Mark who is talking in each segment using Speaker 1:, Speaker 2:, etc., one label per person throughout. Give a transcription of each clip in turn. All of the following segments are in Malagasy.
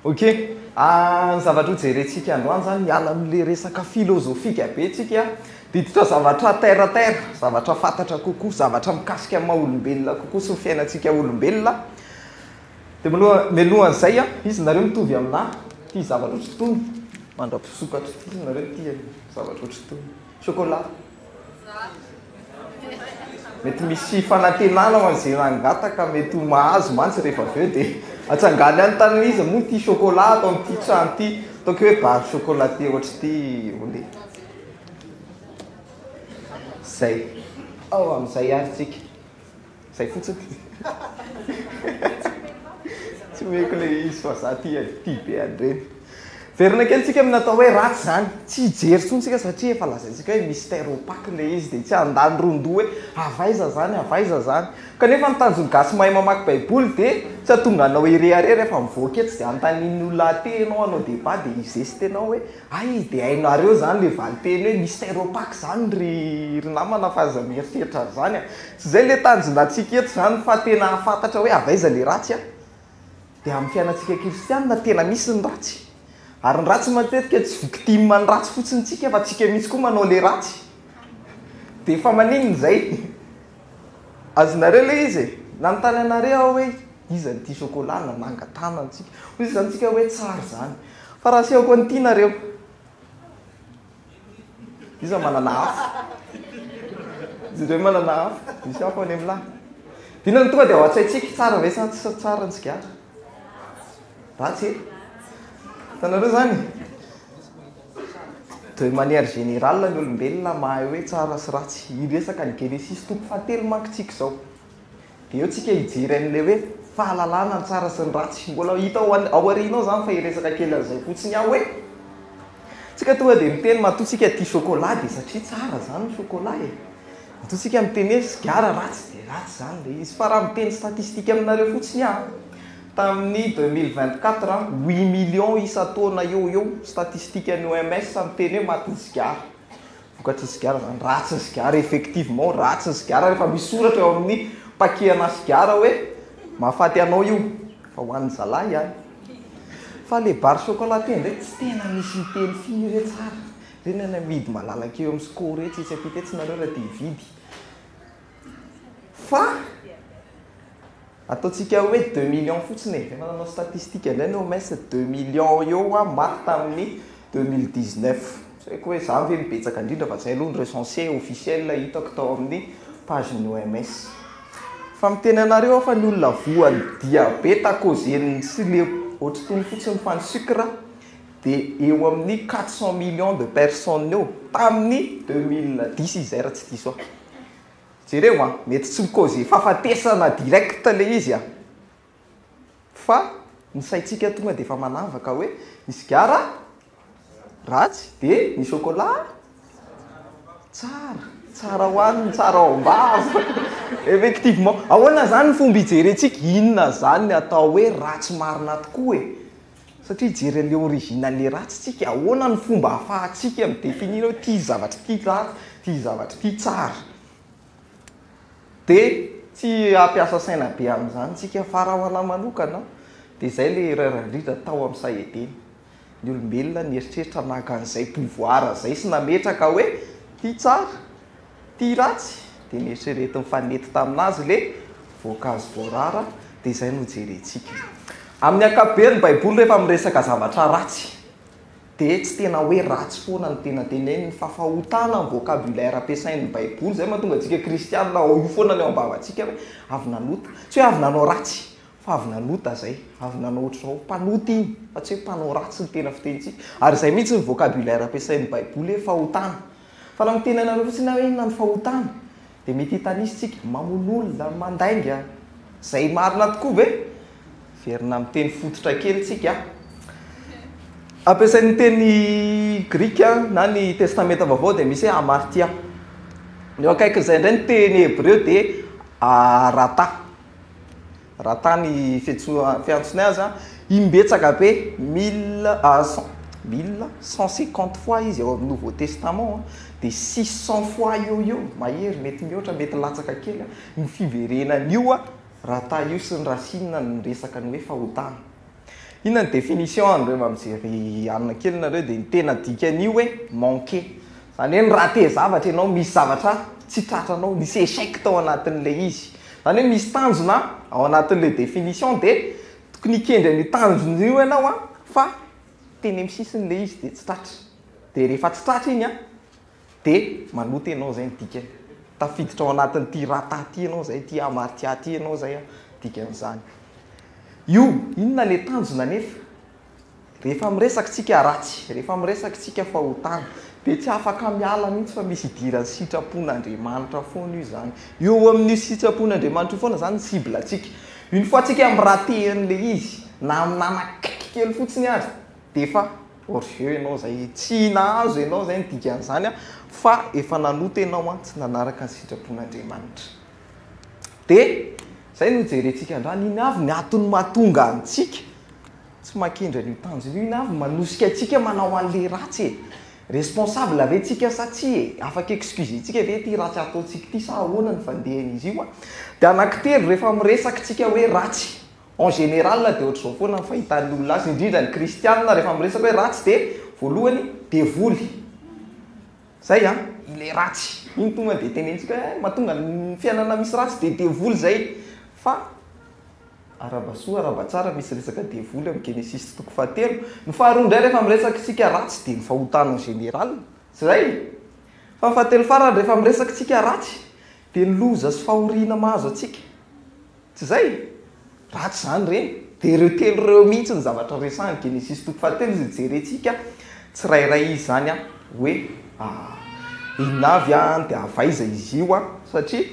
Speaker 1: Ok, ah, ny zavatra hojerentsika androany zany miala amin'le resaka filozofika be tsika diditra zavatra terre à terre, zavatra fantatra kokoa, zavatra mikasika ny maha olombelona kokoa sy ny fiainantsika olombelona. Dia maloha, mialohan'izay an, izy nareo mitovy aminah tia zavatra ohatr'itony, mandra-pisokatra ity izy nareo tia zavatra ohatr'itony, chocolat. Mety misy fanantenana ho an'izay nangataka, mety ho mahazo mantsy rehefa avy eo dia atsangany any tanana izy, moa tia chocolat ato amin'ity trano ity, ataoko hoe bar chocolaté ohatr'ity ho le. Zay, ao amin'izay ary tsika. Zay fotsiny ty. Tsy omeko le izy fa za tia tia be an'ireny. Verina kely tsika amin'ny natao hoe ratsy zany. Tsy hijery tsony tsika satria efa lazaintsika hoe mystère opaque le izy dia tsy handany ron-doha hoe avy aiza zany avy aiza zany. Kanefa ny tanjon'ny gasy mahay mamaky baiboly dia tsy hatonga anao hirehareha rehefa mivoaka etsy dia hanontanian'ny olona aty ianao hanao débat dia hi-geste-nao hoe Hay dia hainareo izany ilay valinteny hoe Mister Opac izany ry ry namana fa aza mieritreritra an'izany a! Tsy izay ilay tanjonantsika eto izany fa tena hahafantatra hoe avy aiza ilay ratsy a! Dia amin'ny fiainantsika kristianina tena misy ny ratsy. Ary ny ratsy matetika tsy victime ny ratsy fotsiny tsika fa tsika mihitsy koa manao ilay ratsy. Dia fa maninona izay? Azonareo ilay izy e! Nanontany anareo aho hoe iza no tia chocolat na manga tana antsika. Hoy izy tamintsika hoe tsara izany. Fa raha asehoko an'i Tina ireo. Iza manana hafa? Izy ireo manana hafa. Misy hafa any amin'ny lahy. Inona no tonga dia ao an-tsaintsika? Tsara ve sa tsy tsara ny sigara? Ratsy e! Hitanareo izany? De manière générale ny olombelona mahay hoe tsara sy ratsy. Hiresaka ny Genesisy toko fahatelo manko tsika izao. De eo tsika hijery an'ilay hoe fahalalana ny tsara sy ny ratsy. Mbola hita ao an- ao aoriana ao izany fa hiresaka kely an'izay fotsiny aho hoe tsika tonga de miteny matoa tsika tia chocolat de satria tsara izany ny chocolat e. Matoa tsika miteny hoe sigara ratsy de ratsy izany ilay izy. Fa raha miteny statistique aminareo fotsiny aho, Tamin'ny deux mille vingt quatre, huit millions isan-taona eo ho eo, statistikan'ny OMS, miteny hoe matin'ny sigara. Vokatry ny sigara izany, ratsy ny sigara, effectivement, ratsy ny sigara rehefa misy soratra eo amin'ny paquet-nà sigara hoe mahafaty anao io, fa ho an'ny zalahy ihany. Fa ilay barre chocolatée indray tsy tena misy miteny firy re tsara. Ireny any amidy malalaka eo amin'ny sco ireny, tsy etsy ampita etsy nareo raha te hividy. Fa ataontsika hoe deux millions fotsiny e, efa nanao statistique indray ny OMS, deux millions eo hoa maty tamin'ny deux mille dix neuf, tsy haiko hoe izany ve no betsaka indrindra fa izay aloha no recenser officiel hitako tao amin'ny page ny OMS. Fa miteny anareo aho fa ny olona voan'ny diabeta à cause ny tsy le ohatry itony fotsiny fa ny sucre dia eo amin'ny quatre cent millions de personnes eo tamin'ny deux mille dix izy izay raha tsy diso ahy. Jereo a, mety tsy mi-causer fahafatesana direct ilay izy a! Fa ny saintsika tonga dia efa manavaka hoe ny sigara ratsy dia ny chocolat tsara, tsara hohanina, tsara ao am-bava. Effectivement, ahoana izany ny fomba hijerentsika? Inona izany ny atao hoe ratsy marina tokoa e? Satria jery an'ilay originale ratsy tsika, ahoana ny fomba ahafahantsika mi-definir hoe ity zavatra ity ratsy, ity zavatra ity tsara. Dia tsy hampiasa saina be amin'izany tsika fa raha ho anahy manokana dia izay ilay erreur indrindra tao amin'ny saha edena. Ny olombelona nieritreritra naka an'izay pouvoir izay sy nametraka hoe ity tsara, Tia ratsy dia neritreretiny fa nety tamin'azy ilay voankazo voarara dia izay no jerentsika. Amin'ny ankapobeny ny baiboly rehefa miresaka zavatra ratsy dia tsy tena hoe ratsy foana no tena teneniny fa fahotana amin'ny vocabulaire ampiasain'ny baiboly izay mahatonga antsika kristianina ao io foana ny ao am-bavantsika hoe avy nanota. Tsy hoe avy nanao ratsy fa avy nanota izay, avy nanao ohatr'izao. Mpanota iny fa tsy hoe mpanao ratsy ny tena fitenintsika. Ary izay mihitsy ny vocabulaire ampiasain'ny baiboly hoe fahotana. Fa raha miteny anareo fotsiny aho hoe inona ny fahotana dia mety hitanisa isika, mamono olona, mandainga, izay marina tokoa ve? Hiverina amin'ny teny fototra kely isika a. Ampiasain'ny teny grika na ny testamenta vaovao dia misy hoe hamartia. Ny eo akaikin'izay indray ny teny hebreo dia arata. Raha tany Fetsoa fiantsonay aza, imbetsaka be, mille à cent, mille cent cinquante fois izy ao amin'ny Nouveau Testament an, dia six cents fois eo ho eo, mahery, mety mihoatra, mety latsaka kely an, ny fiverenan'io an, raha tahio sy ny Racine ny resaka ny hoe fahotana. Inona ny définition an, rehefa mijery alina kely nareo dia ny tena dikan'io hoe manquer. Izany hoe ni-rater zavatra ianao, misy zavatra tsy tratranao, nisy échec tao anatin'ilay izy. Izany hoe misy tanjona ao anatin'ilay définition dia tokony hikendry an'io tanjona io ianao an, fa teny amin'ny sisiny ilay izy dia tsy tratra. Dia rehefa tsy tratra iny an. Dia manota ianao izay ny dikany. Tafiditra ao anatin'ity rata ity ianao izay, ity hamartia ity ianao izay an, dikan'izany. Io, inona ilay tanjona anefa? Rehefa miresaka isika haratsy, rehefa miresaka isika fahotana, dia tsy afaka miala mihitsy fa misy idiran'ny sitrapon'Andriamanitra foana io izany. Eo amin'io sitrapon'Andriamanitra io foana izany ny cible antsika. Une fois antsika mi-rater an'ilay izy, na nanakaiky kely fotsiny aza, dia efa Hors jeu ianao izay, tsy nahazo ianao izay ny dikan'izany fa efa nanota ianao tsy nanaraka ny sitrapon'Andriamanitra. Dia izay no hijerentsika androany, ino avy ny antony mahatonga antsika tsy mankendry an'io tanjona io, ino avy no manosika antsika manao an'ilay ratsy e? Responsable ve tsika sa tsia e? Afaka excuser-tsika ve ity ratsy ataontsika ity sa ahoana ny fandehan'izy io? Dia anankitelo rehefa miresaka tsika hoe ratsy. En général dia ohatr'izao foana ny fahitan'ny olona azy, indrindra ny kristiana rehefa miresaka hoe ratsy dia voalohany devoly. Zay an, ilay ratsy iny tonga dia tenenitsika hoe mahatonga ny fiainana misy ratsy dia devoly zay. Fa arahaba soa arahaba tsara misy resaka devoly amin'ny Genesisy toko fahatelo. Ny faharoa indray rehefa miresaka isika ratsy dia ny fahotana en général. Tsy zay? Fa ny fahatelo farany rehefa miresaka isika ratsy dia ny loza sy fahoriana mahazo antsika. Tsy izay? Ratsy izany re. Dia ireo telo ireo mihitsy ny zavatra resahany, Genesisy toko fahatelo izay jerentsika tsirairay izany hoe inona avy an, dia avy aiza izy io an. Satria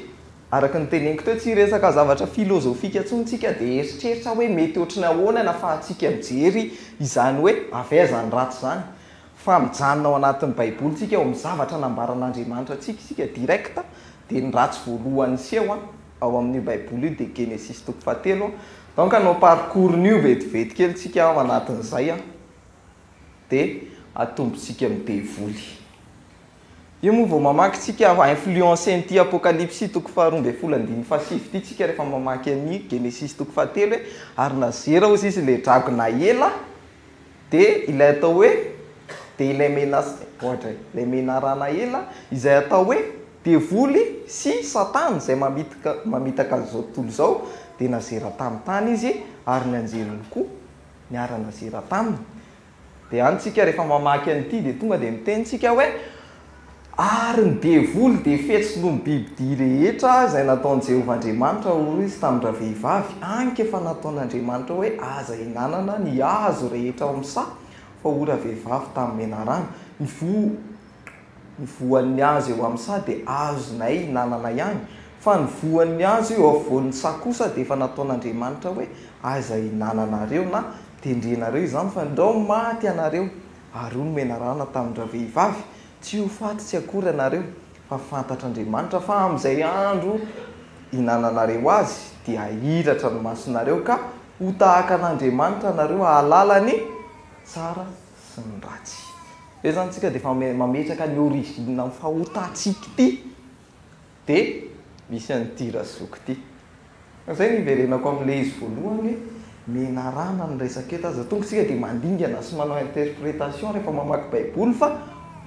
Speaker 1: araka ny teneniko teo, tsy resaka zavatra filozofika intsony isika dia hieritreritra hoe mety ohatry ny ahoana ny ahafahantsika mijery izany hoe avy aiza ny ratsy izany. Fa mijanona ao anatin'ny Baiboly isika, ao amin'ny zavatra nambaran'Andriamanitra antsika isika direct dia ny ratsy voalohany seho an. ao amin'io baiboly io dia Genesisy toko fahatelo, donc hanao parcours an'io vetivety kely tsika ao anatin'izay an, dia atombontsika amin'ny devoly. Io moa vao mamaky tsika influencer an'ity Apokalypsy toko faharoa ambin'ny folo andininy fahasivy ity tsika rehefa mamaky an'i Genesisy toko fahatelo hoe ary nazera ozy izy le dragona ela Dia ilay atao hoe, dia ilay menace, ohatra e, ilay menarana ela, izay atao hoe devoly sy satana izay mamitaka, mamitaka an'izao tontolo izao, dia nazera tamin'ny tany izy ary ny anjeliny koa niara-nazera taminy. Dia any tsika rehefa mamaky an'ity dia tonga dia miteny tsika hoe, Ary ny devoly dia fetsy noho ny bibidia rehetra izay nataon'i Jehovah Andriamanitra, hoy izy tamin-dravehivavy, Anke efa nataon'Andriamanitra hoe aza ihinanana ny hazo rehetra ao amin'ny saha, fa hoy ravehivavy tamin'ny menarana, Ny voan'ny hazo eo amin'ny saha dia azonay ihinanana ihany, fa ny voan'ny hazo eo afovoan'ny saha kosa dia efa nataon'Andriamanitra hoe aza ihinananareo na tendrenareo izany, fandrao maty ianareo Ary hoy ny menarana tamin-dravehivavy, Tsy ho faty tsy akory ianareo, fa fantatr'Andriamanitra fa amin'izay andro ihinananareo azy, dia hahiratra ny masonareo, ka ho tahaka an'Andriamanitra ianareo, hahalala ny tsara sy ny ratsy. Ve izany isika dia efa mametraka ny origine-n'ny fahotantsika ity? Dia misy an'ity Razoky ity. Izay no iverenako amin'ilay izy voalohany hoe menarana ny resaka eto. Aza tonga isika dia mandingana sy manao interprétation rehefa mamaky baiboly fa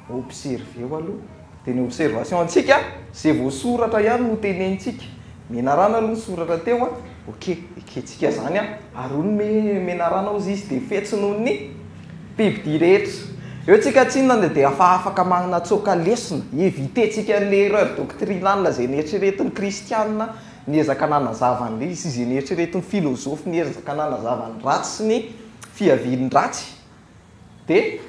Speaker 1: observeo aloha. Dia ny observation antsika izay voasoratra ihany no tenenintsika. Menarana aloha ny soratra teo ok, ekentsika izany ary hoy ny menarana hozy izy dia fetsy noho ny. Mpividy rehetra. Eo tsika tsinona ny dia efa afaka manana tsoaka lesona. Éviter tsika an'ilay erreur doctrinale izay neritreretin'ny kristiana niezaka nanazava an'ilay izy sy izay neritreretin'ny filozofy niezaka nanazava ny ratsy sy ny fiavian-dratsy. Dia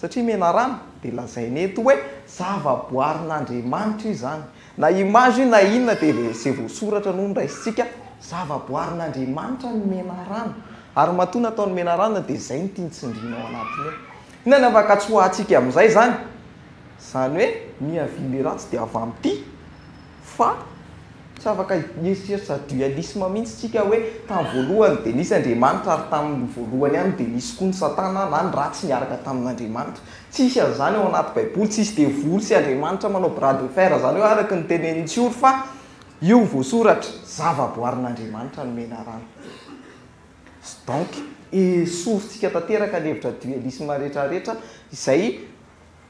Speaker 1: satria menarana dia lazaina eto hoe zavaboarin'Andriamanitra izany. Na image io na inona dia izay voasoratra no noraisintsika, zavaboarin'Andriamanitra ny menarana ary matoa nataony menarana dia izay no tiany tsindriana ao anatiny ao. Inona ny afankatsoa hahantsika amin'izay izany? Izany hoe miha vy le ratsy dia avy amin'ity fa tsy afaka hieritreritra dualisme mihitsy isika hoe tamin'ny voalohany dia nisy Andriamanitra ary tamin'ny voalohany ihany dia nisy koa ny satana na ny ratsy niaraka tamin'Andriamanitra Tsisy an'izany ao anaty baiboly, tsisy devoly sy Andriamanitra manao bras de fer zany hoe araka ny tenenin'i tsioro fa io voasoratra, zavaboarin'Andriamanitra no menarana. Donc, esorintsika tanteraka ny hevitra dualisme rehetra rehetra izay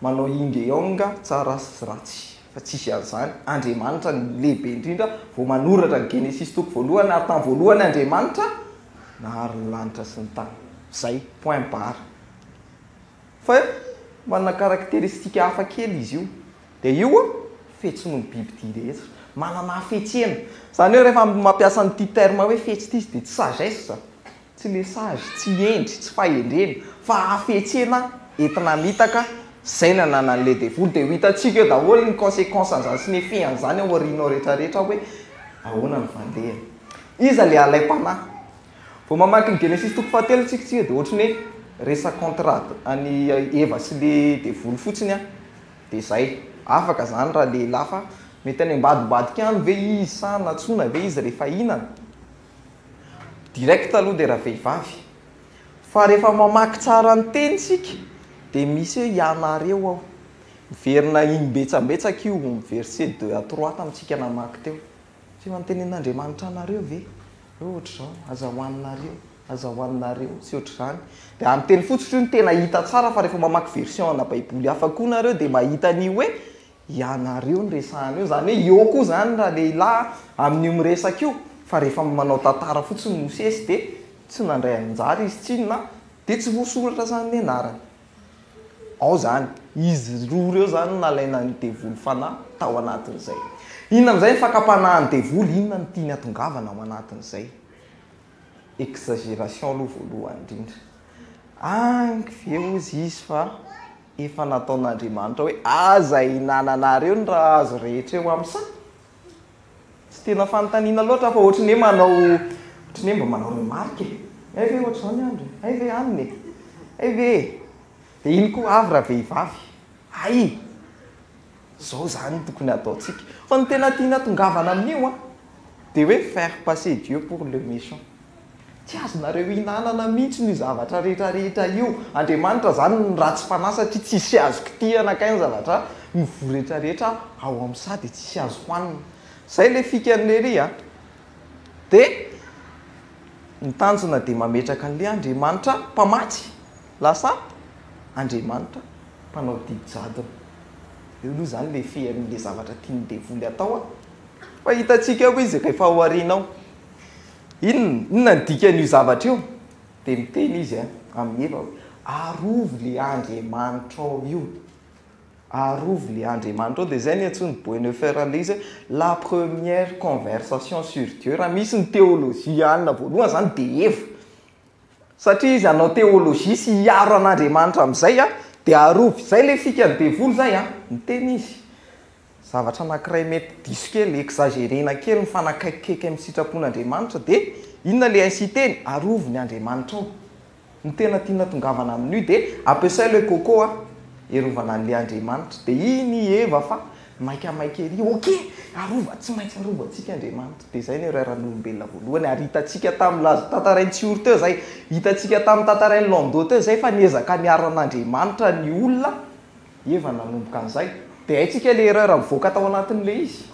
Speaker 1: manao yin de yang tsara sy ratsy fa tsisy an'izany, Andriamanitra no lehibe indrindra vao manoratra ny genesisy toko voalohany ary tany voalohany Andriamanitra nahary ny lanitra sy ny tany. Zay, point barre. Fa manana karakteristika hafa kely izy io. Dia io an, fetsy noho ny bibidia rehetra. Manana hafetsena. Izany hoe rehefa mampiasa an'ity terme hoe fetsy ity izy dia tsy sagesse, tsy le sage, tsy hendry, tsy fahendrena, fa hafetsena entina mitaka izay nananan'ilay devoly. Dia ho hitantsika eo daholo ny consequence an'izany sy ny effet an'izany ao aoriana ao rehetrarehetra hoe ahoana ny valehany. Iza ilay alaim-panahy? Vao mamaky ny Genesisy toko fahatelo tsika tsika dia ohatry ny hoe resa contrat any Eva sy le devoly fotsiny an. Dia zay. Afaka zany raha lehilahy fa mety any ambadimbadika any ve izy sa nantsoina ve izy rehefa hihinana? Direct aloha dia ravehivavy. Fa rehefa mamaky tsara ny teny tsika dia misy hoe ianareo ao. Miverina imbetsambetsaka io verset deux à trois tamintsika namaky teo. Tsy efa notenen'Andriamanitra anareo ve hoe ohatr'izao, aza hohaninareo, aza hohaninareo, sy ohatr'izany. Dia amin'ny teny fotsy hoy no tena hita tsara fa rehefa mamaky version ana baiboly hafa koa nareo dia mahita an'io hoe ianareo no resahana eo. Izany hoe eo koa izany ralehilahy amin'io miresaka io fa rehefa manao tantara fotsiny Mosesy dia tsy nandray anjara izy tsinona dia tsy voasoratra izany ny anarany. Ao izany. Izy roa ireo izany no nalaina ny devoly fanahy tao anatin'izay. Inona amin'izay ny fakam-panahin'ny devoly? Inona no tiany hatongavana ao anatin'izay? Exagération aloha voalohany indrindra. Any ve hozy izy fa efa nataon'Andriamanitra hoe aza ihinananareo ny raha azo rehetra eo amin'ny. Tsy tena fanontaniana loatra fa ohatry ny hoe manao ohatry ny hoe mba manao remarque e! Hay ve ohatry izao ny andro e! Hay ve alina e! Hay ve e! Dia iny koa avy ravehivavy, hay e! Izao izany no tokony hataontsika. Fa ny tena tiana atongavana amin'io an, dia hoe faire passer Dieu pour le méchant. Tsy azonareo hinanana mihitsy io zavatra rehetra rehetra io. Andriamanitra izany no ratsy fanahy satria tsisy azo kitihana kay ny zavatra mivoa rehetra rehetra ao amin'ny saha dia tsisy azo hohanina. Izay ilay fikan'i Lery a! Dia ny tanjona dia mametraka an'ilay Andriamanitra mpamatsy lasa Andriamanitra mpanao didy jadona. Eo aloha izany ilay fean'ilay zavatra tian'ny devoly atao a! Fa hitantsika ao izy rehefa ao aoriana ao. Inona? Inona ny dikan'io zavatra io? Dia niteny Izy amin'i Eva hoe, Arovy ilay Andriamanitrao io. Arovy ilay Andriamanitrao. Dia izay niantsoan'i Bonhoeffer an'ilay izy hoe, La première conversation sur Dieu. Raha misy ny teolojiana voalohany izany dia Eva. Satria izy hanao théologie sy hiaro an'Andriamanitra amin'izay an, dia arovy izay ilay fikan'ny devoly izay an, miteny izy zavatra anankiray mety diso kely, exagérena kely mifanakaikikaiky amin'ny sitrapon'Andriamanitra dia inona ilay inciter-ny? Arovy ny Andriamanitrao. Ny tena tiana tongavana amin'io dia ampiasao ilay coco an, hiarovana an'ilay Andriamanitra. Dia iny i Eva fa Maika maika ery ok arova tsy maintsy arovantsika Andriamanitra dia izay no irairan'olombelona voalohany ary hitantsika tamin'ny laza tantarain'i Tsihory teo izay hitantsika tamin'ny tantarain'i Lando teo izay fa niezaka niaro an'Andriamanitra ny olona eva nanomboka an'izay dia haintsika ilay erreur mivoaka tao anatin'ilay izy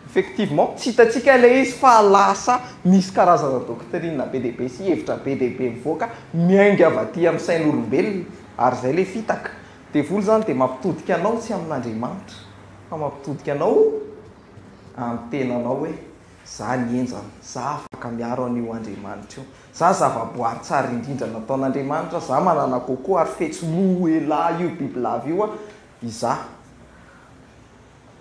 Speaker 1: effectivement tsy hitantsika ilay izy fa lasa misy karazana doctrine be dia be sy hevitra be dia be mivoaka miainga avy aty amin'ny sain'olombelona ary izay ilay fitaka Devoly izany dia mampitodika anao tsy amin'Andriamanitra fa mampitodika anao amin'ny tenanao hoe za ny henjana, za afaka miaro an'io Andriamanitra io, za zava-boary tsara indrindra nataon'Andriamanitra, za manana coco ary fetsy loha elah io bibilava io an, izaho.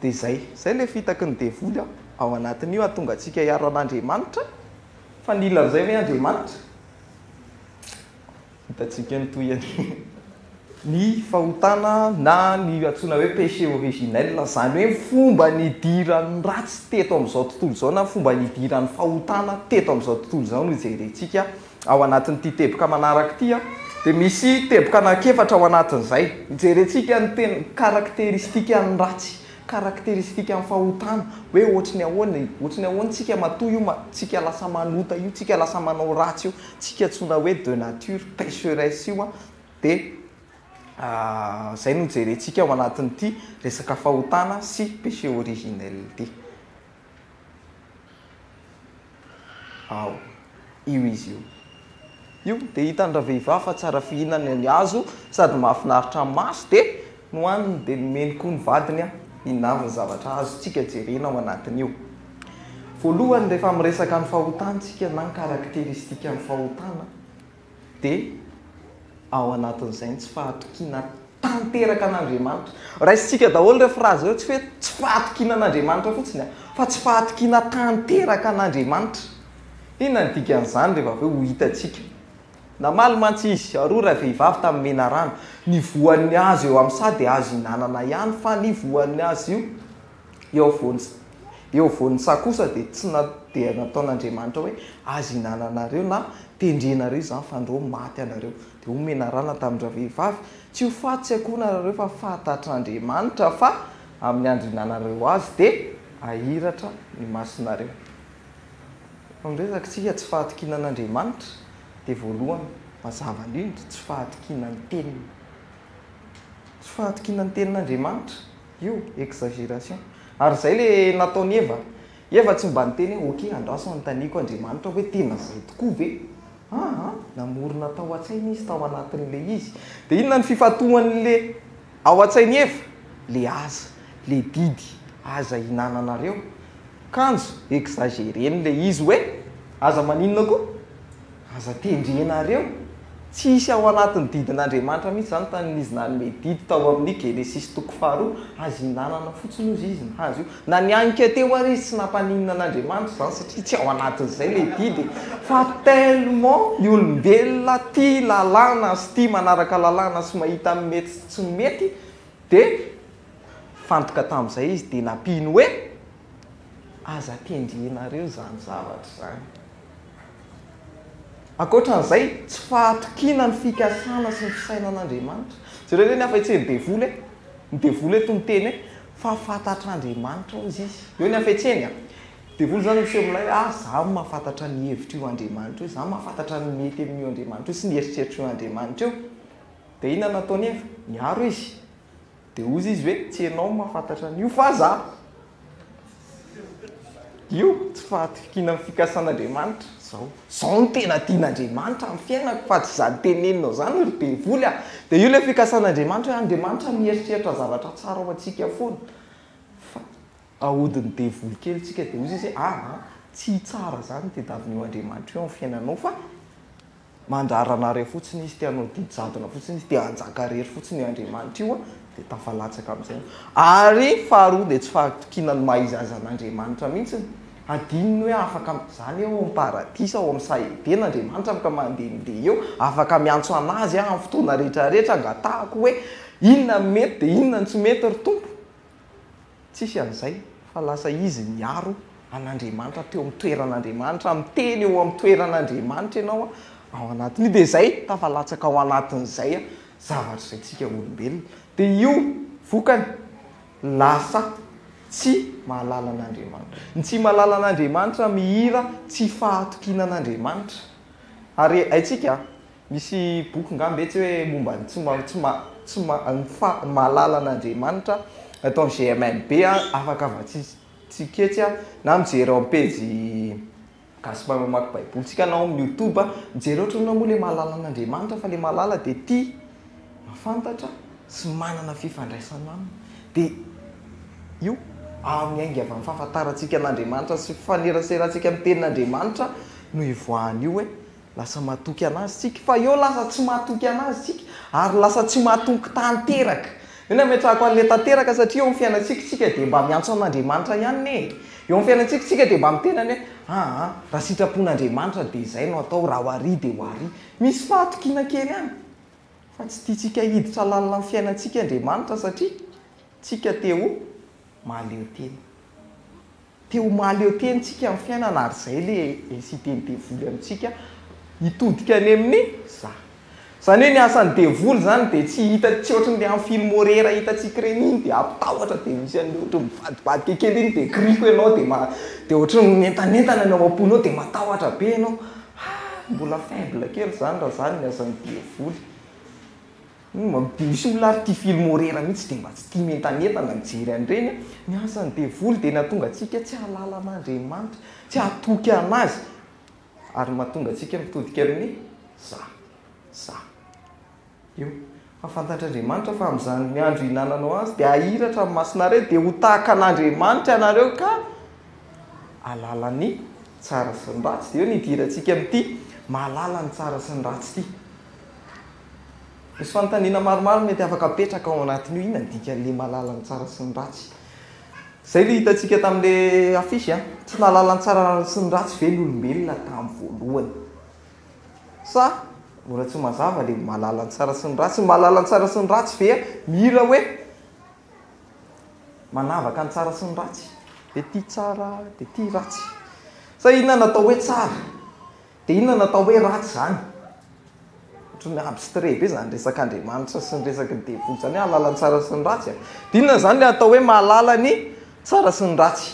Speaker 1: Dia izay, izay ilay fitaky ny devoly an, ao anatin'io hahatonga antsika hiaro an'Andriamanitra, fa nila an'izay ve Andriamanitra? Hitantsika ny tohiny. Ny fahotana na ny antsoina hoe péché originel, izany hoe ny fomba nidiran'ny ratsy teto amin'izao tontolo izao na ny fomba nidiran'ny fahotana teto amin'izao tontolo izao no jerentsika ao anatin'ity teboka manaraka ity. Dia misy teboka anankiefatra ao anatin'izay. Hijerentsika ny tena caractéristiques-n'ny ratsy. karakteristikan'ny fahotana hoe ohatry ny ahoana e? Ohatry ny ahoana tsika matoa io ma tsika lasa manota io tsika lasa manao ratsy io tsika antsoina hoe de nature pecheresse io a de zay no jerentsika ao anatin'ity resaka fahotana sy péché originel ity. Ao. Io izy io. Io dia hitan-dravehivavy fa tsara fihinana ny hazo sady mahafinaritra ny maso dia nohaniny dia nomeny koa ny vadiny hihinana ny zavatra azontsika jerena ao anatin'io. Voalohany rehefa miresaka ny fahotana isika na ny karakteristikan'ny fahotana, Dia ao anatin'izay ny tsy fahatokiana tanteraka an'Andriamanitra. Raisintsika daholo ireo frazy ireo, tsy hoe tsy fahatokiana an'Andriamanitra fotsiny, fa tsy fahatokiana tanteraka an'Andriamanitra. Inona ny dikan'izany rehefa avy eo ho hitantsika? Namaly mantsy izy, ary hoy ravehivavy tamin'ny menarana, Ny voan'ny hazo eo amin'ny saha dia azo ihinanana ihany, fa ny voan'ny hazo io, Eo afovoan'i, eo afovoan'ny saha kosa dia tsy na, dia nataon'Andriamanitra hoe, Aza ihinananareo na tendrenareo izany fa andro ao maty ianareo. Dia hoy menarana tamin-dravehivavy, Tsy ho faty tsy akoho narareo fa fantatr'Andriamanitra fa amin'ny andro ihinananareo azy dia hahiratra ny masonareo. Fa ny resaka tsika tsy fahatokiana an'Andriamanitra dia voalohany, mazava indrindra, tsy fahatokiana ny teniny. Tsy fahatokiana ny tenin'Andriamanitra. Io exagération. Ary zay le nataon'i Eva. Eva tsy mba niteny hoe ok andraso anontaniako Andriamanitra hoe tena zay tokoa ve? Aa namorona tao an-tsainy izy tao anatin'ilay izy. Dia inona ny fifantohan'ilay ao an-tsain'i Eva? Le aza, le didy aza hinananareo. Kanjo exagéreny le izy hoe aza maninona koa? Aza tendrenareo, tsy hisy ao anatin'ny didin'Andriamanitra mihitsy izany tany izy nanome didy tao amin'ny Genesisy toko faharoa, aza ihinanana fotsiny hozy izy ny hazo io. Na nianika teo ary izy tsy nampaninona an'Andriamanitra izany satria tsy ao anatin'izay ilay didy e. Fa tellement ny olombelona tia lalàna sy tia manaraka lalàna sy mahita ny mety sy tsy mety dia nifantoka tamin'izay izy dia nampiany hoe. Aza kendrenareo izany zavatra izany. Ankoatra an'izay, tsy fahatokiana ny fikasana sy ny fisainan'Andriamanitra. Jereo ve ny hafetsen'ny devoly e! Ny devoly eto miteny hoe fa fantatr'Andriamanitra hozy izy. Eo ny hafetseny a! Ny devoly izany no miseho milay hoe ah, izaho mahafantatra ny hevitr' io Andriamanitra io, izaho mahafantatra ny mety amin'io Andriamanitra io sy ny eritreritr' io Andriamanitra io. Dia inona no nataon'i Eva? Niaro izy. Dia hozy izy hoe, tsy ianao no mahafantatra an'io fa za. Io tsy fahatokiana ny fikasan'Andriamanitra. Zao, zao no tena tian'Andriamanitra amin'ny fiainako fa tsy izany teneninao izany ry devoly a! Dia io ilay fikasan'Andriamanitra hoe Andriamanitra mieritreritra zavatra tsara ho antsika foana. Fa ahodin'ny devoly kely isika dia hozy izy hoe, aa, tsy hitsara izany ny tadiavin'io Andriamanitra io amin'ny fiainanao fa Mandrara anareo fotsiny izy, te hanao didy jadona fotsiny izy, te hanjaka irery fotsiny io Andriamanitra io, dia tafalatsaka amin'izay. Ary faharoa dia tsy fahatokiana ny maha izy azy an'Andriamanitra mihitsiny. Hadino ny hoe afaka am, izany eo amin'ny paradisa ao amin'ny saha Edena Andriamanitra afaka mandehandeha eo, afaka miantso an'Azy amin'ny fotoana rehetra rehetra angatahako hoe inona no mety dia inona no tsy mety ry Tompo? Tsisy an'izay fa lasa izy miaro an'Andriamanitra teo amin'ny toeran'Andriamanitra, miteny eo amin'ny toeran'Andriamanitra ianao ao anatin'io dia izay tafalatsaka ao anatin'izay zavatra izay tsika olombelona dia io vokany lasa tsy mahalala an'Andriamanitra. Ny tsy mahalala an'Andriamanitra mihira tsy fahatokiana an'Andriamanitra ary haintsika Misy boky ngah mbe tsy hoe momba ny tsy ma tsy ma tsy ma ny fa mahalala an'Andriamanitra eto amin'ny GMMB a, afaka vatsian tsika etsy a, na mijery ao am-pejy Gasy Mahay Mamaky Baibolintsika na ao amin'ny YouTube a, mijery ohatra ianao moa ilay mahalala an'Andriamanitra fa ilay mahalala dia tia mahafantatra sy manana fifandraisana aminy dia io ary miainga avy amin'ny fahafantarantsika an'Andriamanitra sy ny fifaneraserantsika amin'ny tenin'Andriamanitra no ivoahan'io hoe Lasa matoky an'Azy isika. Fa eo lasa tsy matoky an'Azy isika, ary lasa tsy matoky tanteraka. Io no ametrahako an'ilay tanteraka, satria eo amin'ny fiainantsika isika dia mba miantso an'Andriamanitra ihany anie e. Eo amin'ny fiainantsika isika dia mba miteny anie hoe, aa, raha sitrapon'Andriamanitra dia izay no atao, raha ho àry dia ho àry. Misy fahatokiana kely ihany. Fa tsy tiantsika hiditra lalina amin'ny fiainantsika Andriamanitra, satria tsika te ho mahaleo tena. Te ho mahaleo tena isika amin'ny fiainana ary izay le inciter ny devoly amintsika hitodika any amin'ny za. Izany hoe ny asan'ny devoly izany dia tsy hita tsy ohatry ny le amin'ny film horreur hitantsika ireny iny dia hampitahotra dia misy an'le ohatry ny mivadibadika kely iny dia kiriko ianao dia ma dia ohatry ny mientanentana ny ao am-ponao dia matahotra be ianao, ha mbola faible kely izany raha izany ny asan'ny devoly. Misy olona ary tia film horreur mihitsy dia mba tsy tia mientanentana mijery an'ireny a! Ny asan'ny devoly dia nahatonga antsika tsy hahalala an'Andriamanitra, tsy hahatoky an'Azy ary mahatonga antsika mitodika amin'ny za, za. Eo. Fa fantatr'Andriamanitra fa amin'izany andro hihinananao azy dia hahiratra amin'ny masonareo dia ho tahaka an'Andriamanitra ianareo ka hahalala ny tsara sy ny ratsy. Dia eo no hidirantsika amin'ity mahalala ny tsara sy ny ratsy ity. Misy fanontaniana maromaro mety afaka apetraka ao anatin'io, inona ny dikan'ilay mahalala ny tsara sy ny ratsy? Izay ilay hitantsika tamin'ilay affiche a, tsy nahalala ny tsara sy ny ratsy ve ny olombelona tamin'ny voalohany? Sa mbola tsy mazava ilay mahalala ny tsara sy ny ratsy? Ny mahalala ny tsara sy ny ratsy ve mila hoe manavaka ny tsara sy ny ratsy? Dia ity tsara, dia ity ratsy. Sa inona no atao hoe tsara? Dia inona no atao hoe ratsy izany? Ohatran'ny abstrait be izany resak'Andriamanitra sy ny resaky ny devoly izany hoe hahalala ny tsara sy ny ratsy a! Dia inona izany ilay atao hoe mahalala ny tsara sy ny ratsy?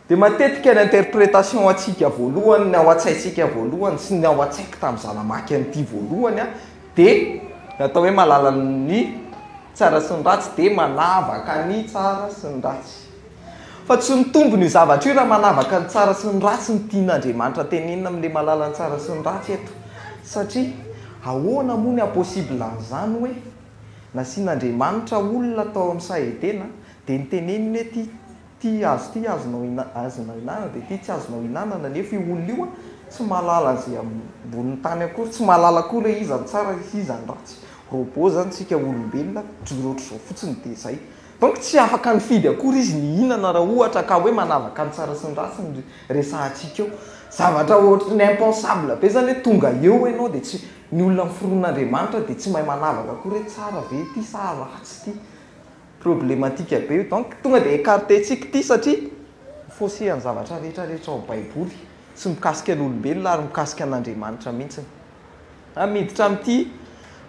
Speaker 1: Dia matetika ny interprétation antsika voalohany, ny ao an-tsaintsika voalohany sy ny ao an-tsaiko tamin'izaho namaky an'ity voalohany a, dia ny atao hoe mahalala ny tsara sy ny ratsy dia manavaka ny tsara sy ny ratsy. Fa tsy mitombo ny zavatra io raha manavaka ny tsara sy ny ratsy ny tian'Andriamanitra tenenina amin'ilay mahalala ny tsara sy ny ratsy eto. Satria ahoana moa ny hahapossible an'izany hoe nasian'Andriamanitra olona tao amin'ny saha Edena dia niteneniny hoe ity ity hazo ity azonao azonao ihinanana dia ity tsy azonao ihinanana nefa io olona io tsy mahalala an'izay ambonin'ny tany akory tsy mahalala akory hoe iza ny tsara sy iza ny ratsy. Robot izany isika olombelona, mijoro ohatr'izao fotsiny dia izay. Donc tsy afaka nifidy akory izy nihinana raha ohatra ka hoe manavaka ny tsara sy ny ratsy ny resahantsika eo. Zavatra ohatry ny impensable be zany hoe tonga eo enao dia tsy, ny olona miforon' Andriamanitra dia tsy mahay manavaka akory hoe tsara ve ity sa ratsy ity. Problematique be io. Donc tonga dia ecarter-tsika ity satria mi-fausser ny zavatra rehetra rehetra ao Baiboly. Tsy mikasika ny olombelona ary mikasika an' Andriamanitra mihitsiny. A Miditra amin'ity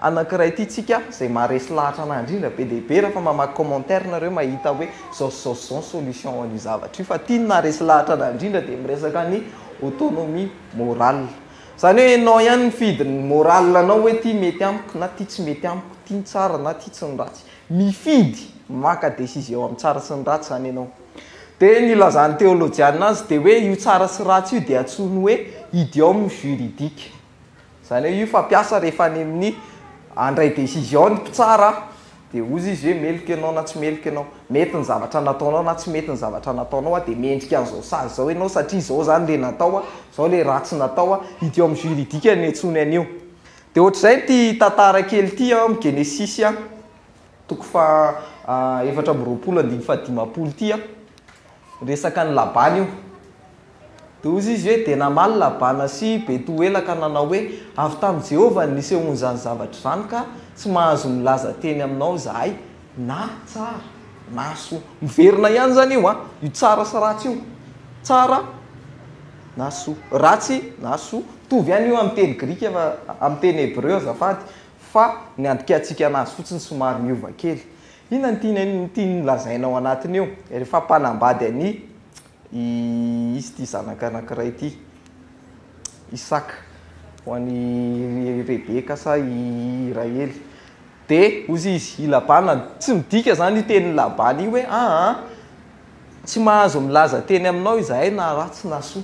Speaker 1: anankiray ity tsika izay maharesy lahatra anahy indrindra be dia be rehefa mamaky commentaire nareo mahita hoe zao sy zao sy zao ny solution ho an'io zavatra io fa ity ny naharesy lahatra anahy indrindra dia miresaka ny autonomie morale izany hoe enao ihany mifidy ny morale anao hoe ity mety amiko na ity tsy mety amiko ity ny tsara na ity tsy ny ratsy mifidy maka décision amin'ny tsara sy ny ratsy izany enao Dia ny ilazan'ny teolojianina azy dia hoe io tsara sy ratsy io dia antsoiny hoe idiom juridique. Izany hoe io fampiasa rehefa any amin'ny handray décision ny mpitsara dia hozy izy hoe meloka ianao na tsy meloka ianao, mety ny zavatra nataonao na tsy mety ny zavatra nataonao dia mendrika an'izao sazy izao ianao satria izao izany ilay natao, izao ilay ratsy natao. Idiom juridique no iantsoany an'io. Dia ohatr'izay ity tantara kely ity ao amin'ny Genesisy. Toko faha efatra amby roapolo andininy faha dimampolo ity an, resaka an'i Labana io. Dia hoy izy hoe, Dia namaly Labana sy Betoela ka nanao hoe, Avy tamin'i Jehovah no nisehoan'izany zavatra izany, ka tsy mahazo milaza teny aminao izahay, na tsara na soa. Miverina ihany izany io an, io tsara sy ratsy io. Tsara na soa. Ratsy na soa. Mitovy ihany io amin'ny teny grika fa amin'ny teny hebreo azafady. fa ny andikantsika anazy fotsiny somary miova kely. Inona no tiany an, tiany lazaina ao anatiny io? Rehefa mpanambady ani i izy ity zanaka anankiray ity, Isaka, ho an' i Rebeka sa i Rahely. Dia hozy izy, i Labana, tsy midika izany io tenin'i Labana io hoe aa, tsy mahazo milaza teny aminao izahay na ratsy na soa.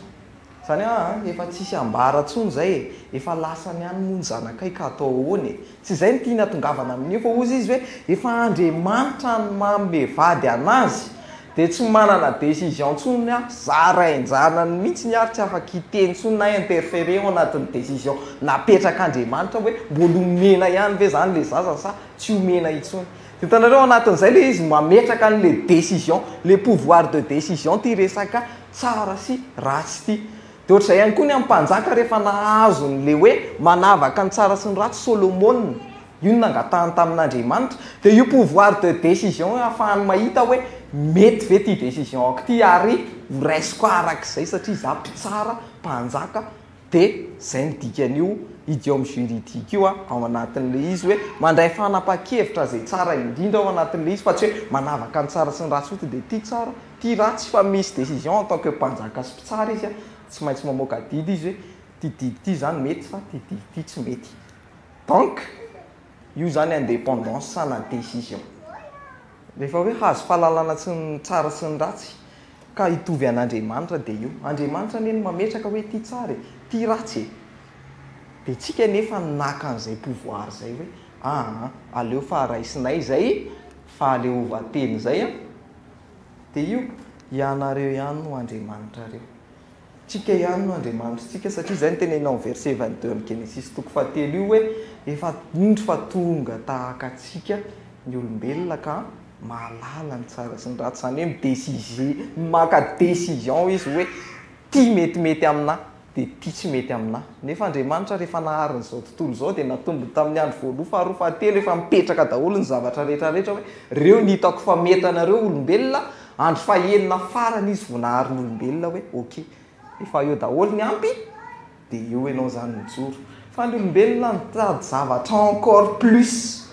Speaker 1: Zany hoa an, efa tsisy ambara tsony izay e, efa lasany any moa ny zanakay ka atao ahoana e? Tsy izay ny tiany hatongavana amin'io fa hozy izy hoe efa Andriamanitra no manome vady anazy dia tsy manana décision tsony aho, za rain-janany mihitsiny ary tsy afaka hiteny tsony na interfere ao anatin'ny décision napetrak'Andriamanitra hoe mbola omena ihany ve zany le zaza sa tsy omena intsony. Hitanareo anatin'izay le izy mametraka an'le décision, le pouvoir de décision ty resaka tsara sy ratsy ity. Dia ohatr'izay ihany koa ny an'ny mpanjaka rehefa nahazo an'ilay hoe manavaka ny tsara sy ny ratsy Solomona. Io no nangatahany tamin'Andriamanitra. Dia io pouvoir de décision io ahafahany mahita hoe mety ve ity décision-ko ity ary ho raisiko arak'izay satria izaho mpitsara, mpanjaka, Dia izay no dikan'io idiome juridique io ao anatin'ilay izy hoe mandray fanapahan-kevitra izay tsara indrindra ao anatin'ilay izy fa tsy hoe manavaka ny tsara sy ny ratsy fotsiny dia ity tsara, ity ratsy fa misy décision en tant que mpanjaka sy mpitsara izy tsy maintsy mamoaka didy izy hoe ity didy ity izany mety fa ity didy ity tsy mety. Donc. Io zany indépendance sa na décision. Rehefa hoe hahazo fahalalana tsy ny tsara sy ny ratsy ka hitovy an'Andriamanitra dia io. Andriamanitra anie no mametraka hoe ity tsara e, ity ratsy e. Dia tsika anefa no naka an'izay pouvoir zay hoe aa aleo fa raisinay izay fahaleovantena izay an. Dia io, ianareo ihany no Andriamanitrareo. Tsika ihany no Andriamanitritsika, satria izay no tenenina ao amin'ny verset vingt deux amin'ny Genesisy toko fahatelo io hoe, efa indro fa tonga tahaka antsika ny olombelona ka mahalala ny tsara sy ny ratsy, izany hoe mi-decize, maka decision izy hoe ity metimety aminà, dia ity tsy mety aminà. Nefa Andriamanitra rehefa nahary an'izao tontolo izao dia natombony tamin'ny andro voaloha, faharoa, fahatelo, efa mipetraka daholo ny zavatra rehetra rehetra hoe, reo ny hitako fa mety anareo olombelona, Andro fahenina farany izy vao nahary ny olombelona hoe ok, efa eo daholo ny ampy dia eo ianao izany mijoro. Fa ny olombelona mitady zavatra encore plus,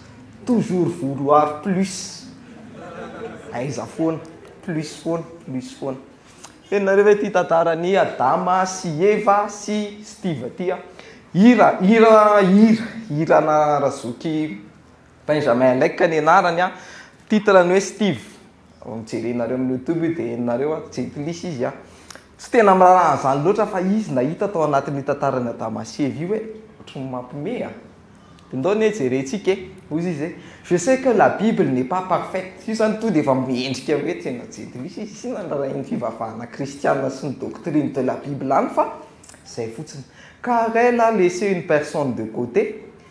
Speaker 1: toujours vouloir plus. Aiza foana, plus foana, plus foana. Henonareo ve ity tantaran'i Adama sy Eva sy Steve ity an? Hira, hira, hira, hiranà Razoky Benjamin Lake ny anarany an, titre ny hoe Steve, jerenareo amin'ny youtube io dia henonareo an, jentilisa izy an, tsy tena miraharaha an'izany loatra fa izy nahita tao anatin'io tantaran'i Adama sy Eva io hoe ohatry ny mampime an, dia ndao anie jerentsika e, hoy izy hoe je sais que la bible n'est pas parfaite, io izany tonga dia efa miendrika hoe tena jentilisa izy, tsy inona raha iny fivavahana kristiana sy ny doctrine de la bible any fa izay fotsiny, car elle a laissé une personne de côté,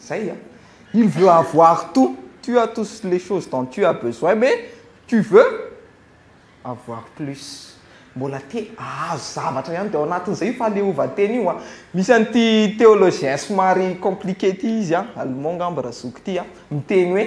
Speaker 1: Zay an! Il veut avoir tout, tu as tous les choses dont tu as besoin mais tu veux avoir plus, mbola te ahazo zavatra ihany, dia ao anatin'izay io fahaleovantena io an! Misy an'ity théologien somary compliqué ity izy an, Allemand angamba Razoky ity an, miteny hoe.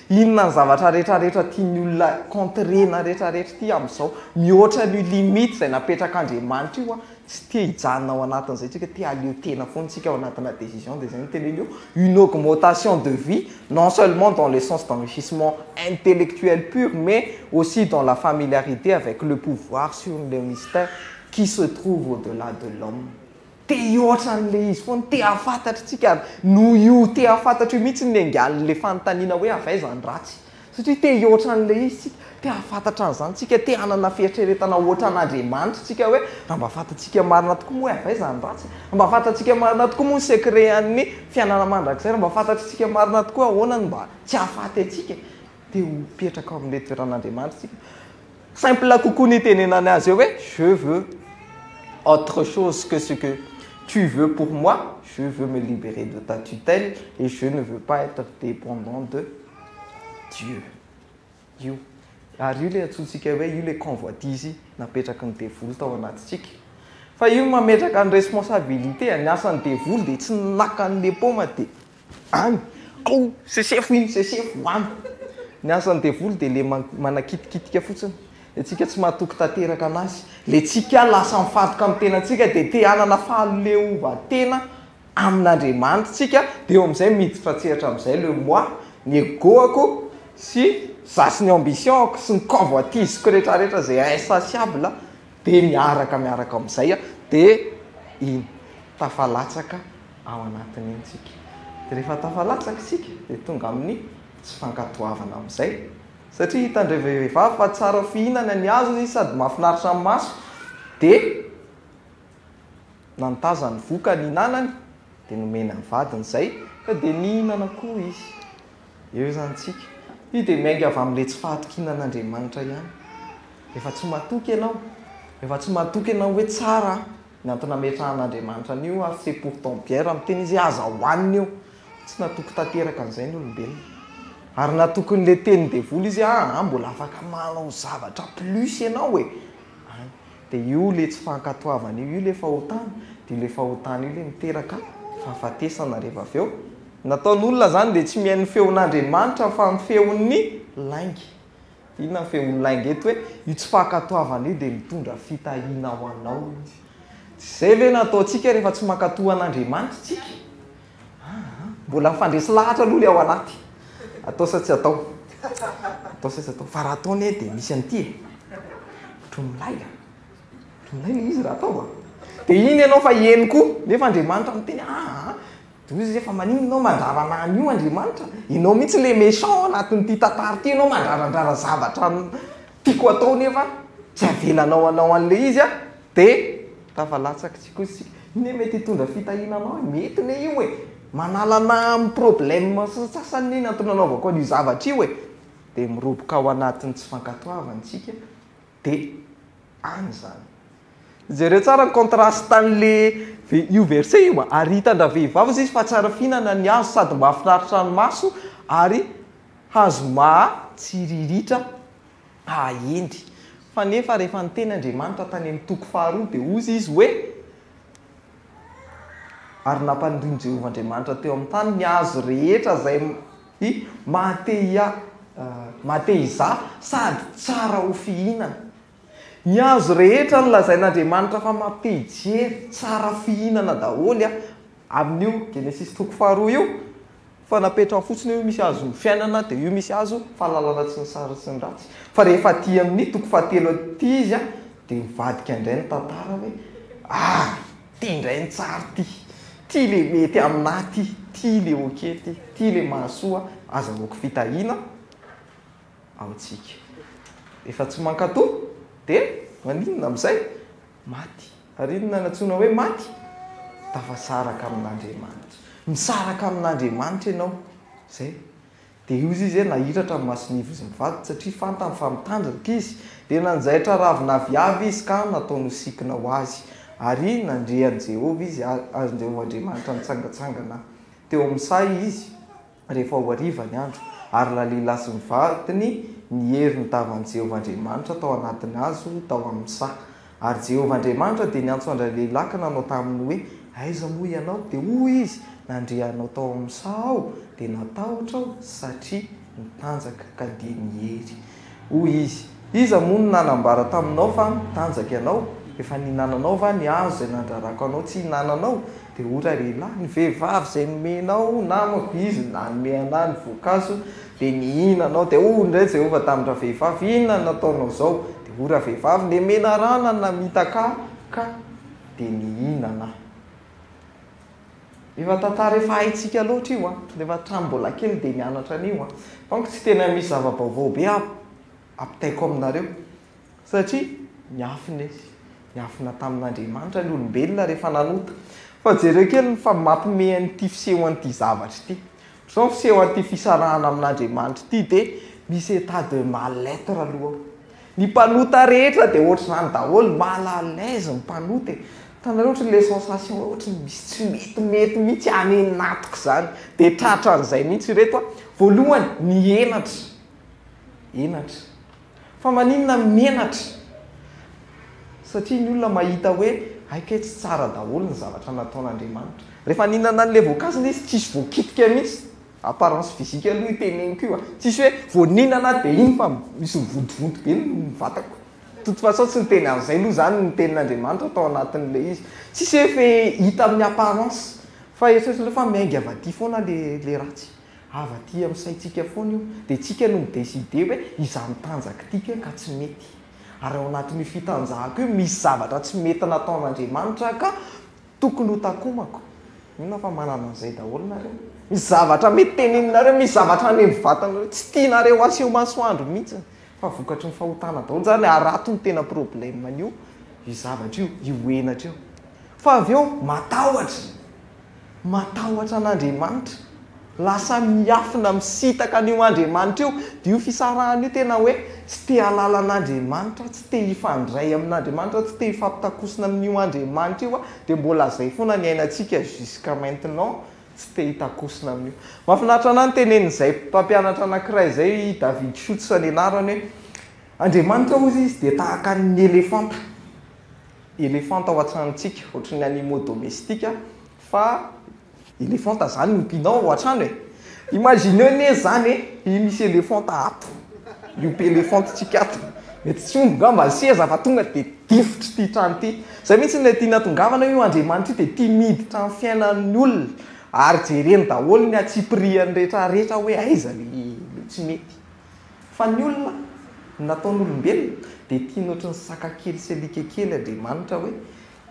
Speaker 1: Inona ny zavatra rehetra rehetra tian'ny olona contrena rehetra rehetra ity amin'izao? Mihoatra an'io limite izay napetrak'Andriamanitra io an! Tsy te hijanona ao anatin'izay tsika, te haleo tena foana tsika ao anatina décision dia izay no teneno eo, une augmentation de vie non seulement dans le sens d'enrichissement intellectuel pur mais aussi dans la familiarité avec le pouvoir sur les mystères qui se trouvent au-delà de l'homme. Te hihoatra an'ilay izy foana, te hahafantatra tsika ary noho io te hahafantatra io mihitsy no niangalin'ilay fanontaniana hoe avy aiza ny ratsy? Satria te hihoatra an'ilay izy tsika, te hahafantatra an'izany tsika, te hanana fieritreretana hoatra an'Andriamanitra tsika hoe raha mba fantatsika marina tokoa moa hoe avy aiza ny ratsy? Raha mba fantatsika marina tokoa moa ny secret-an'ny fiainana mandrakizay? Raha mba fantatsika marina tokoa ahoana no mba tsy hahafaty antsika? Te ho petraka ao amin'ilay toeran'Andriamanitra tsika. Simple kokoa ny itenenany azy eo hoe je veux autre chose que ce que tu veux pour moi, je veux me liberer de ta tutelle et je ne veux pas être dépendant de Dieu. Io. Ary io le antsointsika hoe io le convoitise napetraky ny devoly tao anatintsika. Fa io mametraka ny responsabilité, ny asan'ny devoly dia tsy naka an'le paoma dia Any! Ao! Sesefo iny! Sesefo any! Ny asan'ny devoly dia le manakitikitika fotsiny. Ny antsika tsy mahatoky tanteraka anazy. Le tsika lasa mifantoka amin'ny tenantsika dia te hanana fahaleovan-tena amin'Andriamanitsika dia eo amin'izay miditra an-tsehatra amin'izay le moi, ny ego-ako sy za sy ny ambition-ako sy ny convoitise-ko retraretra zay insatiable dia miaraka miaraka amin'izay dia iny! Tafalatsaka ao anatiny iny isika. Dia rehefa tafalatsaka isika dia tonga amin'ny tsy fankatoavana amin'izay. Satria hitan'ireo vehivavy fa tsara fihinana ny hazo izy sady mahafinaritra ny maso dia nantaza ny vokany hinanany dia nomena ny vadiny izay ka dia nihinana koa izy. Eo izany isika. Io dia miainga avy amin'ilay tsy fahatokinan'Andriamanitra ihany. Rehefa tsy matoky ianao, rehefa tsy matoky ianao hoe tsara aho, Ny antony nametrahan'Andriamanitra an'io ary c'est pourtant bien raha miteny izy hoe aza hohanina io. Tsy natoky tanteraka an'izay ny olombelona. Ary natoky an'ilay tenin'ny devoly izy hoe aa mbola afaka manao zavatra plus ianao e! any. Dia io ilay tsy fankatoavana io, io ilay fahotana. Dia io ilay fahotana io ilay miteraka fahafatesana rehefa avy eo. Ny nataon'olona izany dia tsy mihaino ny feon'Andriamanitra fa ny feon'ny lainga. Inona ny feon'ny lainga eto hoe io tsy fankatoavana io dia mitondra fitahiana ho anao? Tsy izay ve no ataontsika rehefa tsy mankatoa an'Andriamanitra isika? Aa, mbola mifandresy lahatra aloha ilay ao anaty, atao sa tsy atao? Atao sa tsy atao? Fa raha atao anie dia misy an'ity e, ohatry ny milay a, ohatry ny milay ilay izy raha atao a, dia iny ianao fa hihaino koa, nefa Andriamanitra miteny aa, Doza e fa maninona enao mandrarana an io Andriamanitra? Enao mihitsy le méchant ao anatin'ity tantara ity enao mandrarandrara zavatra tiako atao nefa tsy avelanao hanao anle izy an de tafalatsaky tsy kosa isika. Io ne mety hitondra fitahiana anao e, mety ne io e, manala ana amin'ny problème sasany ne ny antony nanaovako an'io zavatra io e, de miroboka ao anatin'ny tsy fankatoavana isika. De any izany. Jereo tsara ny contraste an'le io verset io a! Ary hitan-dravehivavy hozy izy fa tsara fihinana ny hazo sady mahafinaritra ny maso ary hazo maha tsiriritra hahendry. Fa nefa rehefa niteny Andriamanitra tany amin'ny toko faharoa dia hozy izy hoe, Ary nampanorin'i Jehovah Andriamanitra teo amin'ny tany ny hazo rehetra izay I maha-te-hiahy, maha-te-hizaha sady tsara ho fihinana. Ny hazo rehetra nolazain'Andriamanitra fa mampijery, tsara fihinana daholo amin'io, Genesisy toko faharoa io, fa napetrany fotsiny hoe io misy hazon'ny fiainana dia io misy hazo fahalalana tsy ny tsara sy ny ratsy. Fa rehefa aty amin'ny toko fahatelo aty izy dia mivadika indray ny tantara hoe, ary. Ty indray ny tsara ty. Ty le mety aminà ty. Ty le ok ty. Ty le mahasoa. Azahoako fitahiana amintsika. Efa tsy mankatò? Dia maninona amin'izay? Maty. Ary inona no antsoina hoe maty? Tafasaraka amin'Andriamanitra. Misaraka amin'Andriamanitra ianao. Izay. Dia io izy e nahiratra ny mason'Ivo izy mivady satria fantany fa mitandrika izy, dia nanjaitra ravina aviavy izy ka nataony ho sikina ho azy. Ary nandre an'i Jehovah izy, ary ny Jehovah Andriamanitra nitsangantsangana teo amin'ny saha izy, rehefa ho hariva ny andro, ary lalehilà sy ny vadiny niery ny tavan'i Jehovah Andriamanitra tao anatin'ny hazo tao amin'ny saha. Ary Jehovah Andriamanitra dia niantso an-dray lehilaka nanao taminy hoe, Aiza moa ianao? Dia hoy izy, Nandre anao tao amin'ny saha aho, dia natahotra aho, satria mitanjaka ka dia niery. Hoy izy, Iza moa no nanambara taminao fa mitanjaka ianao? Efa nihinananao va ny hazo izay nandrarako anao tsy hihinananao? Dia hoy ralehilahy, Ny vehivavy izay nomena ho namako izy nanome an'ahy ny voankazo, dia nihinanao. Dia hoy indray Jehovah tamin-dravehivavy, Inona no nataonao izao? Dia hoy ravehivavy, Ny menarana no namitaka ahy, ka dia nihinana aho. Efa tantara efa haintsika loatra io an! Rehefa hatramin'ny mbola kely dia mianatra an'io an! Fa manko tsy tena misy zava-baovao be hampitaiko aminareo. Satria niafina izy. Niafina tamin'Andriamanitra ny olombelona rehefa nanota. Fa jereo kely ny fa mampime an'ity fiseho an'ity zavatra ity. Ohatran'izao ny fiseho an'ity fisarahana amin'Andriamanitra ity dia misy état de mal être aloha ao. Ny mpanota rehetra dia ohatr'izany daholo, mal à l'aise ny mpanota e. Hitanareo ohatry ny ilay sensation hoe ohatry ny misy tsy metimety mihitsy any anatiko izany. Dia tratran'izay mihitsy ireto a. Voalohany, ny henatra. Henatra. Fa maninona menatra? Satria ny olona mahita hoe hay kay tsy tsara daholo ny zavatra nataon'Andriamanitra. Rehefa nihinana an'ilay voankazo ilay izy tsy nisy voakitika mihitsy. Apparence physique aloha io teneniko io a. Tsy nisy hoe vao nihinana aho dia iny fa misy mivontovonto be ny vatako. De toute façon tsy niteny an'izay aloha izany ny tenin'Andriamanitra tao anatin'ilay izy. Tsy nisy hoe hita amin'ny apparence. Fa eritreretin'ireo fa miainga avy aty foana ilay ratsy. Avy aty amin'ny saintsika foana io, dia tsika no mi-decider hoe izany tanjaka ity ke ka tsy mety. Ary ao anatin'io fitanjahako io misy zavatra tsy mety nataon'Andriamanitra ka tokony ho takomako. Inona fa manana an'izay daholo nareo. Misy zavatra mety teneninareo, misy zavatra any amin'ny vatanareo tsy tianareo aseho masoandro mihitsy fa vokatry ny fahotana daholo izany, ary ato no tena problème-n'io io zavatra io, io henatra io. Fa avy eo matahotra. Matahotra an'Andriamanitra. Lasa miafina misitaka an'io Andriamanitra io. Dia io fisarahana io tena hoe tsy te hahalala an'Andriamanitra, tsy te hifandray amin'Andriamanitra, tsy te hifampitakosina amin'io Andriamanitra io aho. Dia mbola izay foana ny ainantsika jusqu'à maintenant, tsy te hitakosina amin'io. Mahafinaritra anahy ny tenenin'izay mpampianatra anankiray izay, i David Schutz ny anarany hoe, Andriamanitra hozy izy dia tahaka ny elefanta. elefanta ao an-tranontsika, ohatry ny animaux domestiques fa elefanta zany no ompianao ao an-trano e! Imagineo anie zany e! i misy elefanta ato, miompy elefanta tsika ato, mety tsy omby ngamba ny seza fa tonga dia difotry ity trano ity, zay mintsy ilay tiana tongavana io Andriamanitra io dia tia miditra amin'ny fiainan'ny olona ary jereny daholo ny atsipiriany retraretra hoe aiza le tsy mety. Fa ny olona, nataon'olombelona, dia tiany ohatry ny saka kely sy alika kely Andriamanitra hoe,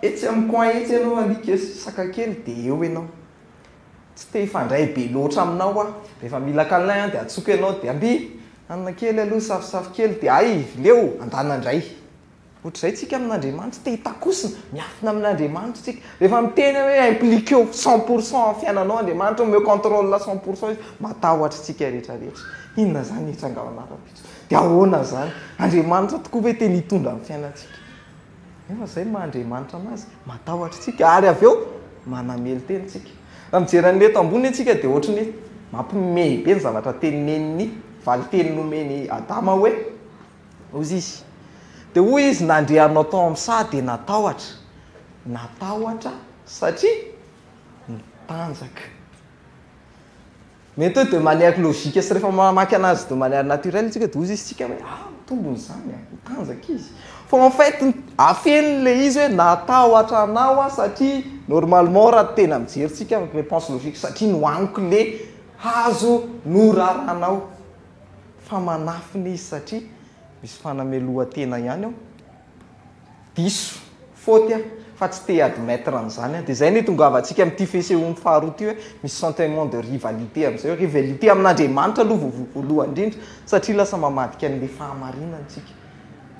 Speaker 1: etsy amin'ny coin etsy ianao alika sy saka kely dia eo ianao. Tsy te hifandray be loatra aminao aho. Rehefa mila câlin aho dia atsoko ianao dia, amby! hanina kely aloha, safosafo kely dia, hay! vileo! andana indray. Ohatr'izay tsika amin'Andriamanitra, te hitakosina, miafina amin'Andriamanitra tsika. Rehefa miteny aho hoe impliquer-o cent pour cent amin'ny fiainanao Andriamanitra, omeo contrôle cent pour cent Izy, matahotra tsika rehetra rehetra. Inona izany etsy an-galan'arabitro? Dia ahoana izany? Andriamanitra tokoa ve te ny hitondra amin'ny fiainantsika? Nefa izay ny maha Andriamanitra an'Azy, matahotra tsika ary avy eo manamely tena tsika. Raha mijery an'ilay eto ambony tsika dia ohatry ny hoe mampimehy be ny zavatra tenineniny, valinteny nomeny Adama hoe, Mozisy. Dia hoy izy, Nandrianao tao amin'ny saha dia natahotra. Natahotra satria nitanjaka. Mety hoe de manière logique sy rehefa mamaky anazy de manière naturelle isika dia hoy izy isika hoe ah ny tombony izany a, nitanjaka izy. Fa en fait afeniny ilay izy hoe natahotra anao aho satria normalement raha tena mijery tsika réponse logique satria nohaniko le hazo norarànao. fa manafina izy satria misy fanamelohan-tena ihany ao. Diso, faute aho fa tsy te admettre an'izany aho. Dia izay no itongavantsika amin'ity fesehoany faharoa ity hoe misy sentiment de rivalité amin'izay. Rivalité amin'Andriamanitra aloha voalohany indrindra satria lasa mamadika an'ilay fahamarinana isika.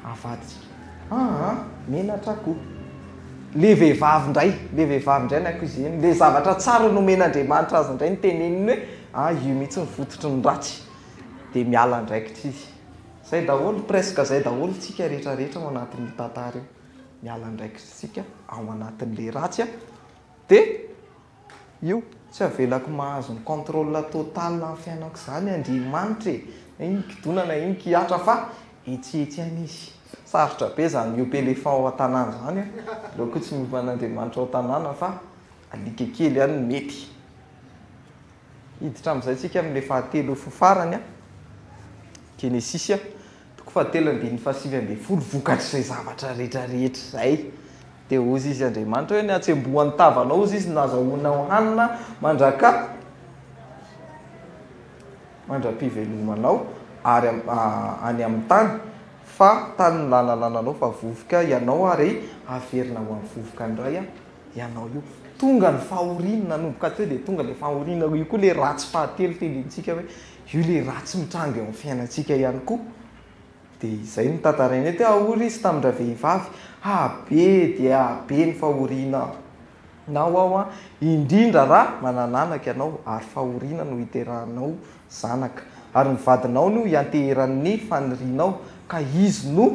Speaker 1: avadika aa menatra ko le vehivavy ndray le vehivavy ndray ny accuseen le zavatra tsara nomen'Andriamanitra azy ndray niteneniny hoe a io mihitsy ny fototry ny ratsy de miala andraikitra izy zay daholo presque zay daholo tsika rehetra rehetra ao anatin'io tantara io miala andraikitra tsika ao anatin'le ratsy a de Io tsy avelako mahazo ny contrôle total amin'ny fiainako izany Andriamanitra e! na iny kidona na iny kihatra fa etsihetsy ihany izy. Sarotra be izany miompy éléphant ao an-tanàna izany an! aleo koa tsy miompy an'Andriamanitra ao an-tanàna fa alika kely ihany no mety. Hiditra amin'izay isika amin'ny fahatelo sy ny farany an! Genesisy an! Toko fahatelo andininy fahasivy ambin'ny folo Vokatr'izay zavatra rehetra rehetra izay, dia hozy Izy Andriamanitra hoe, Ny hatsembohan'ny tavanao, hozy Izy, no nazahoanao hanina mandraka mandra-pivelomanao, ary any amin'ny tany, fa tany nilalalananao fa vovoka ianao, ary haverina ho amin'ny vovoka indray ianao io. Tonga ny fahoriana, nanomboka teo dia tonga ilay fahoriana, io koa ilay ratsy fahatelo tendrentsika hoe, io le ratsy mitranga eo amin'ny fiainantsika ihany koa dia izay no tantarainay teo ah ory izy tamin-dravehivavy ah be dia be ny fahoriana nao aho an indrindra raha manan'anaka ianao ary fahoriana no hiterahanao zanaka ary ny vadinao no hianteheran'ny fanirianao ka izy no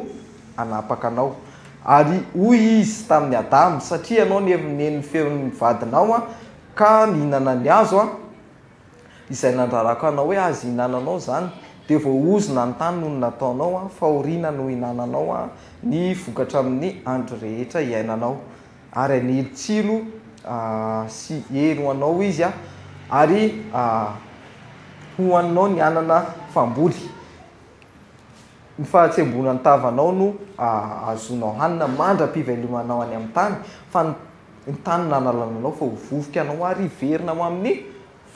Speaker 1: hanapaka anao ary hoy izy tamin'i Adama satria ianao niheviny ny feon'ny vadinao an ka nihinana ny hazo an Izay nandrarako anao hoe azo ihinananao izany, dia voaozona ny tany noho ny nataonao, fahoriana no ihinananao ny vokatra amin' ny andro rehetra iainanao, ary hanely tsilo sy hery ho anao izy, ary hohaninao ny anana famboly. Ny fahatsembonan tavanao no ahazoanao hanina mandra-pivelomanao any amin'ny tany, fa ny ny tany nanalana anao fa ho vovoka ianao ary hiverina ho amin'ny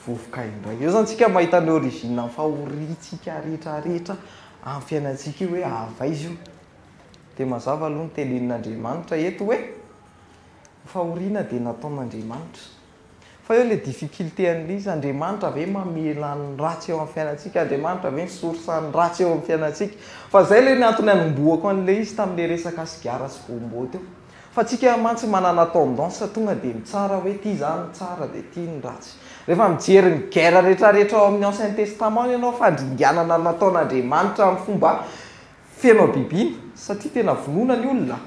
Speaker 1: vovoka indray. Eo izany isika mahita ny origine ny fahoriantsika rehetra rehetra amin'ny fiainantsika io hoe avy aiza io. Dia mazava aloha ny tenenin'Andriamanitra eto hoe, ny fahoriana dia nataon'Andriamanitra. Fa eo ilay difficulté an'ilay izy, Andriamanitra ve mamela ny ratsy eo amin'ny fiainantsika? Andriamanitra ve ny source an'ny ratsy eo amin'ny fiainantsika? Fa izay ilay ny antony anombohako an'ilay izy tamin'ilay resaka sigara sy gombo teo. Fa tsika mantsy manana tendance tonga dia mitsara hoe ity za no tsara dia ity ny ratsy. Rehefa mijery ny guerre rehetrarehetra ao amin'ny ancien testament ianao, fandringanana nataon'Andriamanitra amin'ny fomba Feno habibiana satria tena vonoina ny olona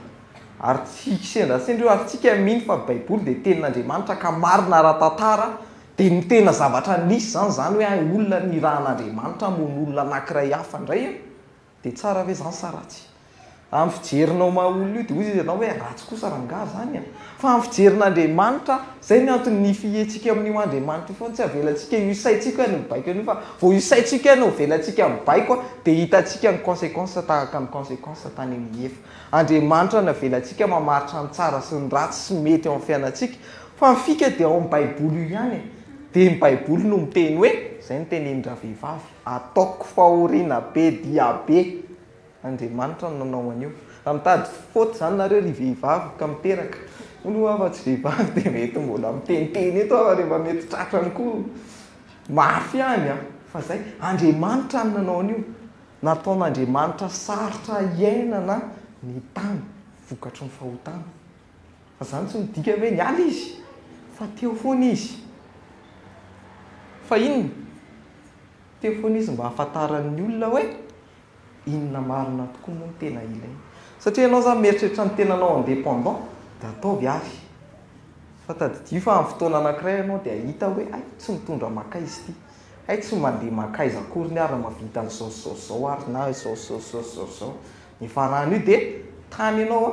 Speaker 1: ary tsy kisendrasendra io ary tsika mino fa baiboly dia tenin'Andriamanitra ka marina ara-tantara dia ny tena zavatra nisy zany zany hoe hay olona nirahan'Andriamanitra hamono olona anakiray hafa indray an! dia tsara ve zany sa ratsy? amin'ny fijerinao maha olona io dia hoy izy ianao hoe ratsy kosa rangah zany an! Fa amin'ny fijerin'Andriamanitra aho. Izay ny antony ny fihiantsika amin'io Andriamanitra io foana, tsy avelantsika io saintsika hoe mibaiko an'io fa vao io saintsika no avelantsika mibaiko dia hitantsika ny consequences tahaka ny consequences tany amin'ny efa. Andriamanitra no avelantsika mamaritra ny tsara sy ny ratsy sy mety eo amin'ny fiainantsika. Fa ny fika dia ao amin'ny baiboly io ihany e. Dia ny baiboly no miteny hoe, izay no tenenin-dravehivavy, ataoko fahoriana be dia be. Andriamanitra no nanao an'io. Raha mitady faute izany nareo ry vehivavy ka miteraka. Hono hoa fa tsy vehivavy dia mety mbola miteniteny eto aho rehefa mety tratrany koa. Mafy ihany an! Fa izay, Andriamanitra no nanao an'io. Nataon'Andriamanitra sarotra hiainana ny tany vokatry ny fahotana. Fa izany tsy midika hoe niala Izy, fa teo foana Izy. Fa inona? Teo foana Izy mba hahafantaran'ny olona hoe. Inona marina tokoa moa no tena ilaina? Satria ianao izany mieritreritra ny tenanao indépendant dia ataovy ary. Fa tadidio fa amin'ny fotoana anankiray ianao dia hahita hoe hay tsy mitondra makaiza ity, hay tsy mandeha makaiza akory ny ahy raha mahavita an'izao sy izao sy izao ary na izao sy izao sy izao sy izao sy izao. Ny ifaran'io dia tany ianao a!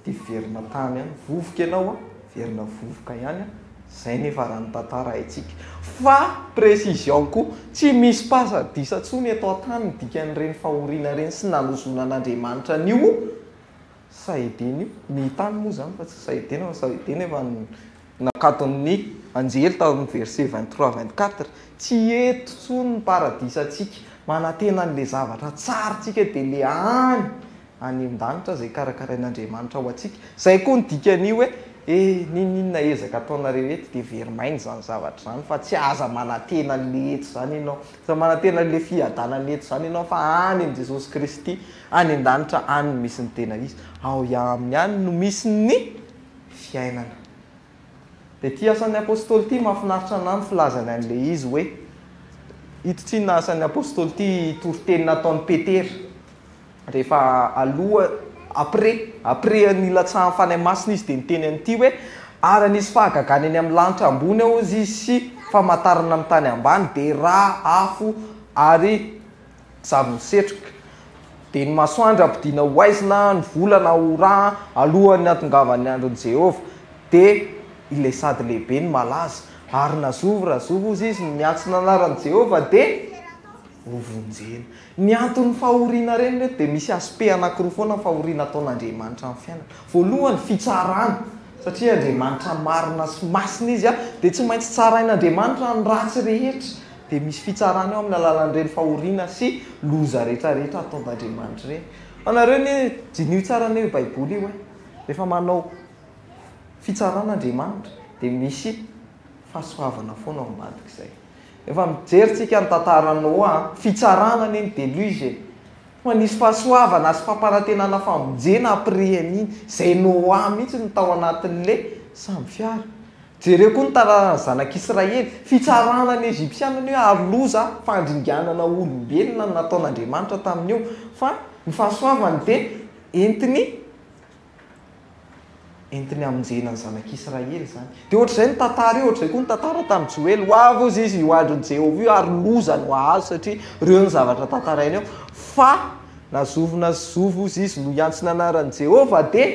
Speaker 1: Dia verina tany ihany vovoka ianao a, verina vovoka ihany a, zay nefa raha ny tantara haintsika. Fa précision koa, tsy misy paza disa tsony eto antany ny dikan'ireny fahoriana ireny sy nanozoanan'Andriamanitra an'io Sahedena io, ny tany moa izany fa tsy Sahedena fa Sahedena efa nakaton'ny anjely tao amin'ny verset vingt trois vingt quatre, tsy eto tsony ny paradisantsika, manantena an'ilay zavatra tsara tsika dia le any any an-danitra izay karakarain'Andriamanitra ho antsika. Izay koa ny dikan'io hoe, E, n'inon'inona ezaka ataonareo eto dia very maina izany zavatra izany fa tsy aza manantena an'ilay eto izany ianao, aza manantena an'ilay fiadanana eto izany ianao fa any amin'i Jesosy Kristy any an-danitra any no misy ny tena izy. Ao Aminy any no misy ny fiainana. Dia ity asan'ny Apostoly ity mahafinaritra an'ahy ny filazany an'ilay izy hoe, ito tsinona asan'ny Apostoly ity toriteny nataon'i Petera. Rehefa aloha, après, après ny hilatsahan'ny Fanahy Masina izy dia niteny an'ity hoe, Ary hanisy fahagagana eny amin'ny lanitra ambony ao izy sy famantarana amin'ny tany ambany, dia ra, afo ary zavon-tsetroka. Dia ny masoandro hampodiana ho haizina, ny volana ho ra, alohan'ny hahatongavan'ny andron'i Jehovah. Dia ilay sady lehibe no malaza. Ary na zovy ra zovy hozy izy no miantso ny anaran'i Jehovah, dia. ho vonjena. Ny anton'ny fahoriana reny reto dia misy aspect anakiroa foana fahoriana ataon'Andriamanitra amin'ny fiainana. Voalohany, fitsarana, satria Andriamanitra marina sy masina Izy a, dia tsy maintsy tsarain'Andriamanitra ny ratsy rehetra, dia misy fitsarana eo amin'ny alalan'ireny fahoriana sy loza retraretra ataon'Andriamanitra ireny. Fa nareo anie diniho tsara anie io baiboly io e, rehefa manao fitsarana Andriamanitra dia misy Fahasoavana foana ao ambadik'izay. Rehefa mijery tsika ny tantara Noa, fitsarana anie ny deluge e. Fa nisy fahasoavana sy fampanantenana famonjena après an'iny. Izay Noa mihitsy no tao anatin'le sambo fiara. Jereo koa ny tantaran'ny zanak'Israely. Fitsarana ny Egyptiana anie ary loza, fandringanana olombelona no nataon'Andriamanitra tamin'io. Fa ny fahasoavany dia entiny. Entiny hamonjena ny Zanak'Israely izany. Dia ohatr'izay ny tantara io, ohatr'izay koa ny tantara tamin'i Joely. Ho avy hozy izy io andron'i Jehovah io, ary loza no hahazo, satria ireo no zavatra tantarainy eo. Fa na zovy na tsy zovy hozy izy no hiantso ny anaran'i Jehovah, dia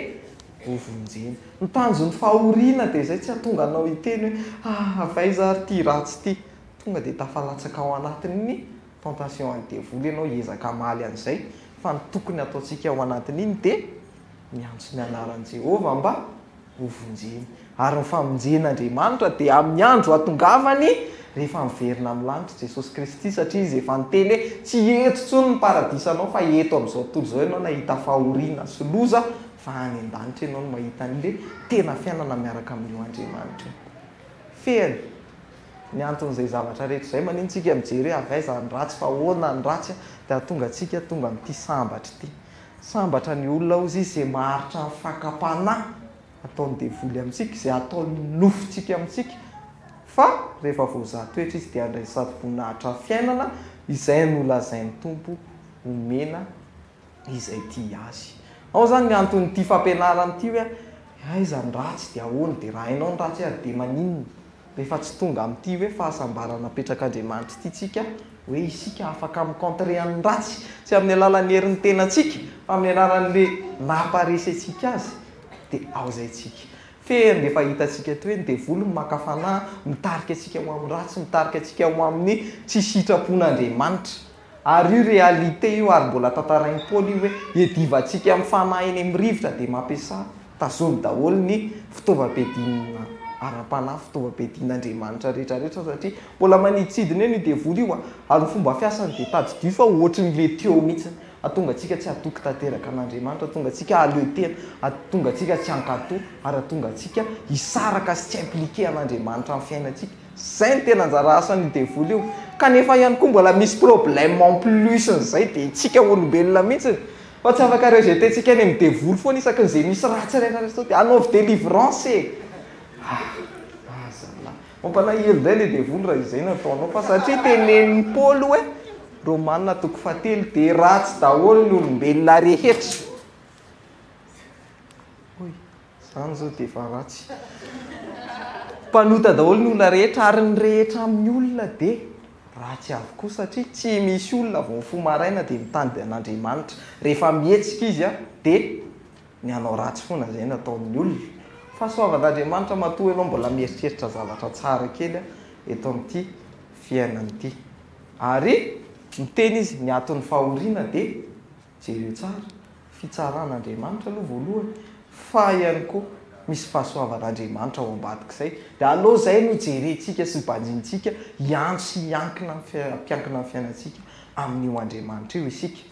Speaker 1: hovonjena. Ny tanjon'ny fahoriana dia izay, tsy hahatonga anao hiteny hoe, Ah, avy aiza àry ity ratsy ity? Tonga dia tafalatsaka ao anatin'ny Tentation an'ny devoly ianao hiezaka hamaly an'izay, fa ny tokony hataontsika ao anatin'iny dia miantso ny anaran'i Jehovah mba ho vonjeny. Ary ny famonjen'Andriamanitra dia amin'ny andro hatongavany, rehefa miverina amin'ny lanitra i Jesosy Kristy, satria izy efa niteny hoe, Tsy eto intsony ny paradisanao, fa eto amin'izao tontolo izao ianao nahita fahoriana sy loza, fa any an-danitra ianao no mahita an'ilay tena fiainana miaraka amin'io Andriamanitra io. Fehiny. Ny anton'izay zavatra rehetra izay maniny tsika mijery hoe avy aiza ny ratsy fa ahoana ny ratsy dia hahatonga antsika tonga amin'ity sambatra ity. Sambatra ny olona hozy izy izay maharitra ny fakam-panahy ataon'ny devoly amintsika, izay ataon'ny nofontsika amintsika fa rehefa voazaha toetra izy dia handray ny sady voninahitra ny fiainana izay nolazain'ny Tompo homena izay tia Azy. Ao izany ny anton'ity fampianarana ity hoe aiza ny ratsy dia ahoana dia raha hainao ny ratsy ary dia maninona? Rehefa tsy tonga amin'ity hoe fahasambarana apetrak'Andriamanitra ity tsika, hoe isika afaka mi-contrer an'ny ratsy, tsy amin'ny alalan'ny herin'ny tenantsika, fa amin'ny alalan'ilay naha-aparecentsika azy, dia ao izay tsika. Fehiny dia efa hitantsika eto hoe ny devoly no maka fanahy, mitarika antsika ho amin'ny ratsy, mitarika antsika ho amin'ny tsy sitrapon'Andriamanitra. Ary io réalité io ary mbola tantarain'i Paoly io hoe iadivantsika amin'ny fanahy eny amin'ny rivotra dia mampiasà tazony daholo ny fitaovam-piadiana ara-panahy, fitaovam-piadian'Andriamanitra rehetra rehetra satria mbola manidintsidina eo io devoly io ary ny fomba fiasany dia tadidio fa ohatry ny le teo mihitsy hahatonga antsika tsy hatoky tanteraka an'Andriamanitra, hahatonga antsika hahaleo tena, hahatonga antsika tsy hankatò ary hahatonga antsika hisaraka sy tsy impliqué an'Andriamanitra amin'ny fiainantsika. Zay no tena anjara asan'io devoly io. Kanefa ihany koa mbola misy problème en plus n'izay dia itsika olombelona mihitsy fa tsy afaka rejeter tsika any amin'ny devoly foana isaky ny ze misy ratsy ilaina resy zao dia anaovy délivrance e! ah ah zalahy mampalahelo indray ilay devoly raha izay no ataonao fa satria tenenin'i Paoly hoe Romana toko faha telo dia ratsy daholo ny olombelona rehetra. Izany izao dia efa ratsy. Mpanota daholo ny olona rehetra ary ny rehetra amin'ny olona dia ratsy avokoa satria tsy misy olona vao mifoha maraina dia mitady an'Andriamanitra. Rehefa mihetsika izy dia ny hanao ratsy foana izay no ataon'ny olona. Fahasoavan'Andriamanitra matoa ianao mbola mieritreritra zavatra tsara kely eto amin'ity fiainana ity. Ary miteny izy ny aton'ny fahoriana dia Jereo tsara, fitsaran'Andriamanitra aloha voalohany, fa ihany koa misy fahasoavan'Andriamanitra ao ambadik'izay. Dia aleo izay no jerentsika sy banjinintsika, hiantso sy hiankina amin'ny fiai-, hampiankina amin'ny fiainantsika amin'io Andriamanitra io isika.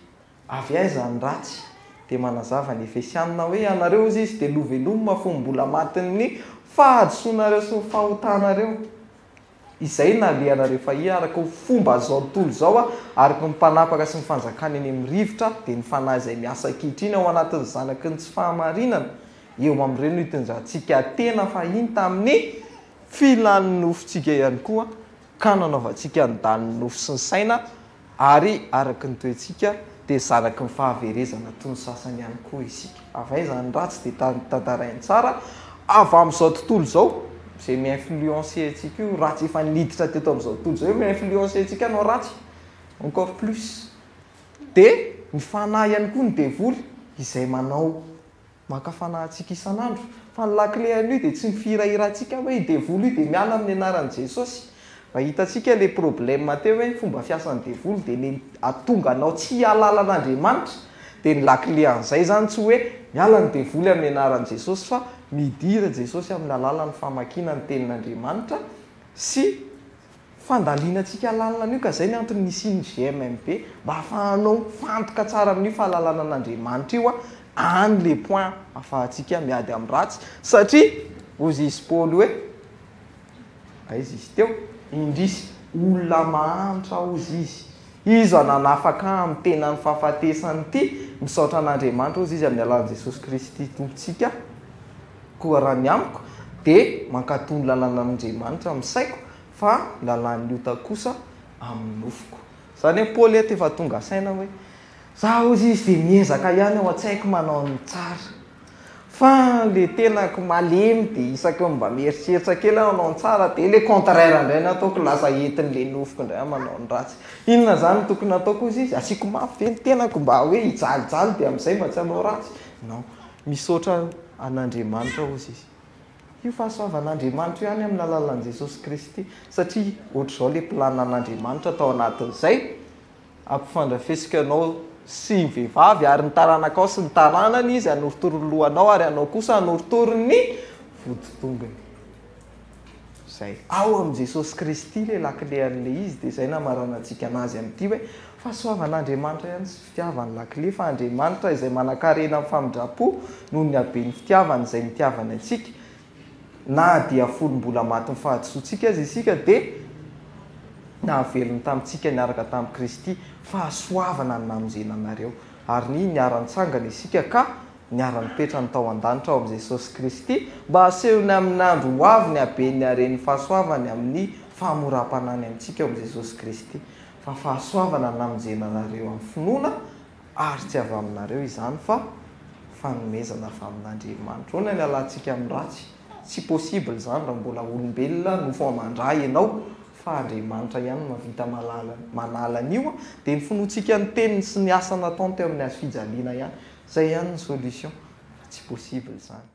Speaker 1: Avy aiza ny ratsy? Dia manazava ny Efesiana hoe, Ianareo, hozy izy, dia novelomina fony mbola matin'ny fahadisoanareo sy ny fahotanareo. Izay nalehanareo fahia araka ho fomba izao tontolo izao araka ny mpanapaka sy ny fanjakana eny amin'ny rivotra dia ny fanahy izay miasa ankehitriny ao anatin'ny zanaky ny tsy fahamarinana eo amin'ireo no hitondrantsika tena fahiny tamin'ny filan'ny nofontsika ihany koa ka nanaovantsika ny danin'ny nofo sy ny saina Ary araka ny toetsika dia zanaky ny fahaverezana toy ny sasany ihany koa isika. Avy aiza ny ratsy dia tantarainy tsara avy amin'izao tontolo izao izay mi-influencer antsika io ratsy efa niditra teto amin'izao tontolo izao io mi-influencer antsika hanao ratsy encore plus. Dia ny fanahy ihany koa ny devoly izay manao Maka fanahintsika isan'andro. Fa ny lakile an'io dia tsy ny fihirahirantsika hoe i devoly io dia miala amin'ny anaran'i Jesosy. Mba hitantsika ilay problème teo hoe ny fomba fiasan'ny devoly dia ilay ahatonga anao tsy hihalala an'Andriamanitra. Dia ny lakile an'izay izany tsy hoe miala ny devoly amin'ny anaran'i Jesosy fa midira Jesosy amin'ny alalan'ny famakiana ny tenin'Andriamanitra sy Fandalinantsika lalina an'io ka zay ny antony nisian'ny GMMB mba hafahanao mifantoka tsara amin'io fahalalana an'Andriamanitra io any le point afahantsika miady amin'ny ratsy satria hozy izy Paoly hoe aiza izy teo? indrisy olona mahantra hozy izy iza nanafaka amin'ny tenany fahafatesana ity misaotra an'Andriamanitra hozy izy amin'ny alalan'i Jesosy Kristy Tompontsika Koa raha ny amiko dia mankato ny lalan'Andriamanitra amin'ny saiko fa ny lalan'ny ota kosa amin'ny nofoko. Izany hoe Paoly eto efa tonga saina hoe za hozy izy dia miezaka ihany ao an-tsaiko manao ny tsara. Fa ilay tenako malemy dia isaky ny mba mieritreritra kely aho hanao ny tsara dia ilay contraire indray no ataoko, lasa entin'ilay nofoko indray aho manao ny ratsy. Inona izany no tokony hataoko hozy izy? Asiako mafy ve ny tenako mba hoe hijalijaly dia amin'izay mba tsy hanao ratsy? Non. Misaotra an Andriamanitra ozy izy. Io fahasoavan Andriamanitra io any amin'ny alalan'i Jesosy Kristy satria ohatr'izao le plan an'Andriamanitra tao anatin'izay hampifandrafesiko ianao sy ny vehivavy ary ny taranakao sy ny taranany izy hanorotoro ny lohanao ary ianao kosa hanorotoro ny voditongony. Izay. Ao amin'i Jesosy Kristy ilay lakile an'ilay izy, dia izay no hamaranantsika an'azy amin'ity hoe, fahasoavan'Andriamanitra ihany tsy fitiavany lakile, fa Andriamanitra izay manankarena amin'ny famindram-po noho ny haben'ny fitiavany izay nitiavany antsika, na dia fony mbola matin'ny fahadisoantsika aza isika, dia nahavelony tamintsika niaraka tamin'i Kristy, fahasoavana ny namonjena anareo, ary ny niara-nitsangana isika ka niara-nipetrany tao an-danitra ao amin'i Jesosy Kristy, mba hasehony amin'ny andro ho avy ny haben'ny haren'ny fahasoavany amin'ny fahamoram-panahiny amintsika ao amin'i Jesosy Kristy. Fa fahasoavana namonjena anareo amin'ny finoana, ary tsy avy aminareo izany, fa fanomezana avy amin'Andriamanitra. Ahoana ny halantsika amin'ny ratsy? Tsy possible izany raha mbola olombelona no vao mandra ianao fa Andriamanitra ihany no mahavita mahalala manala an'io dia ny finoantsika ny teniny sy ny asa nataony teo amin'ny hazo fijaliana ihany. Izay ihany ny solution fa tsy possible izany.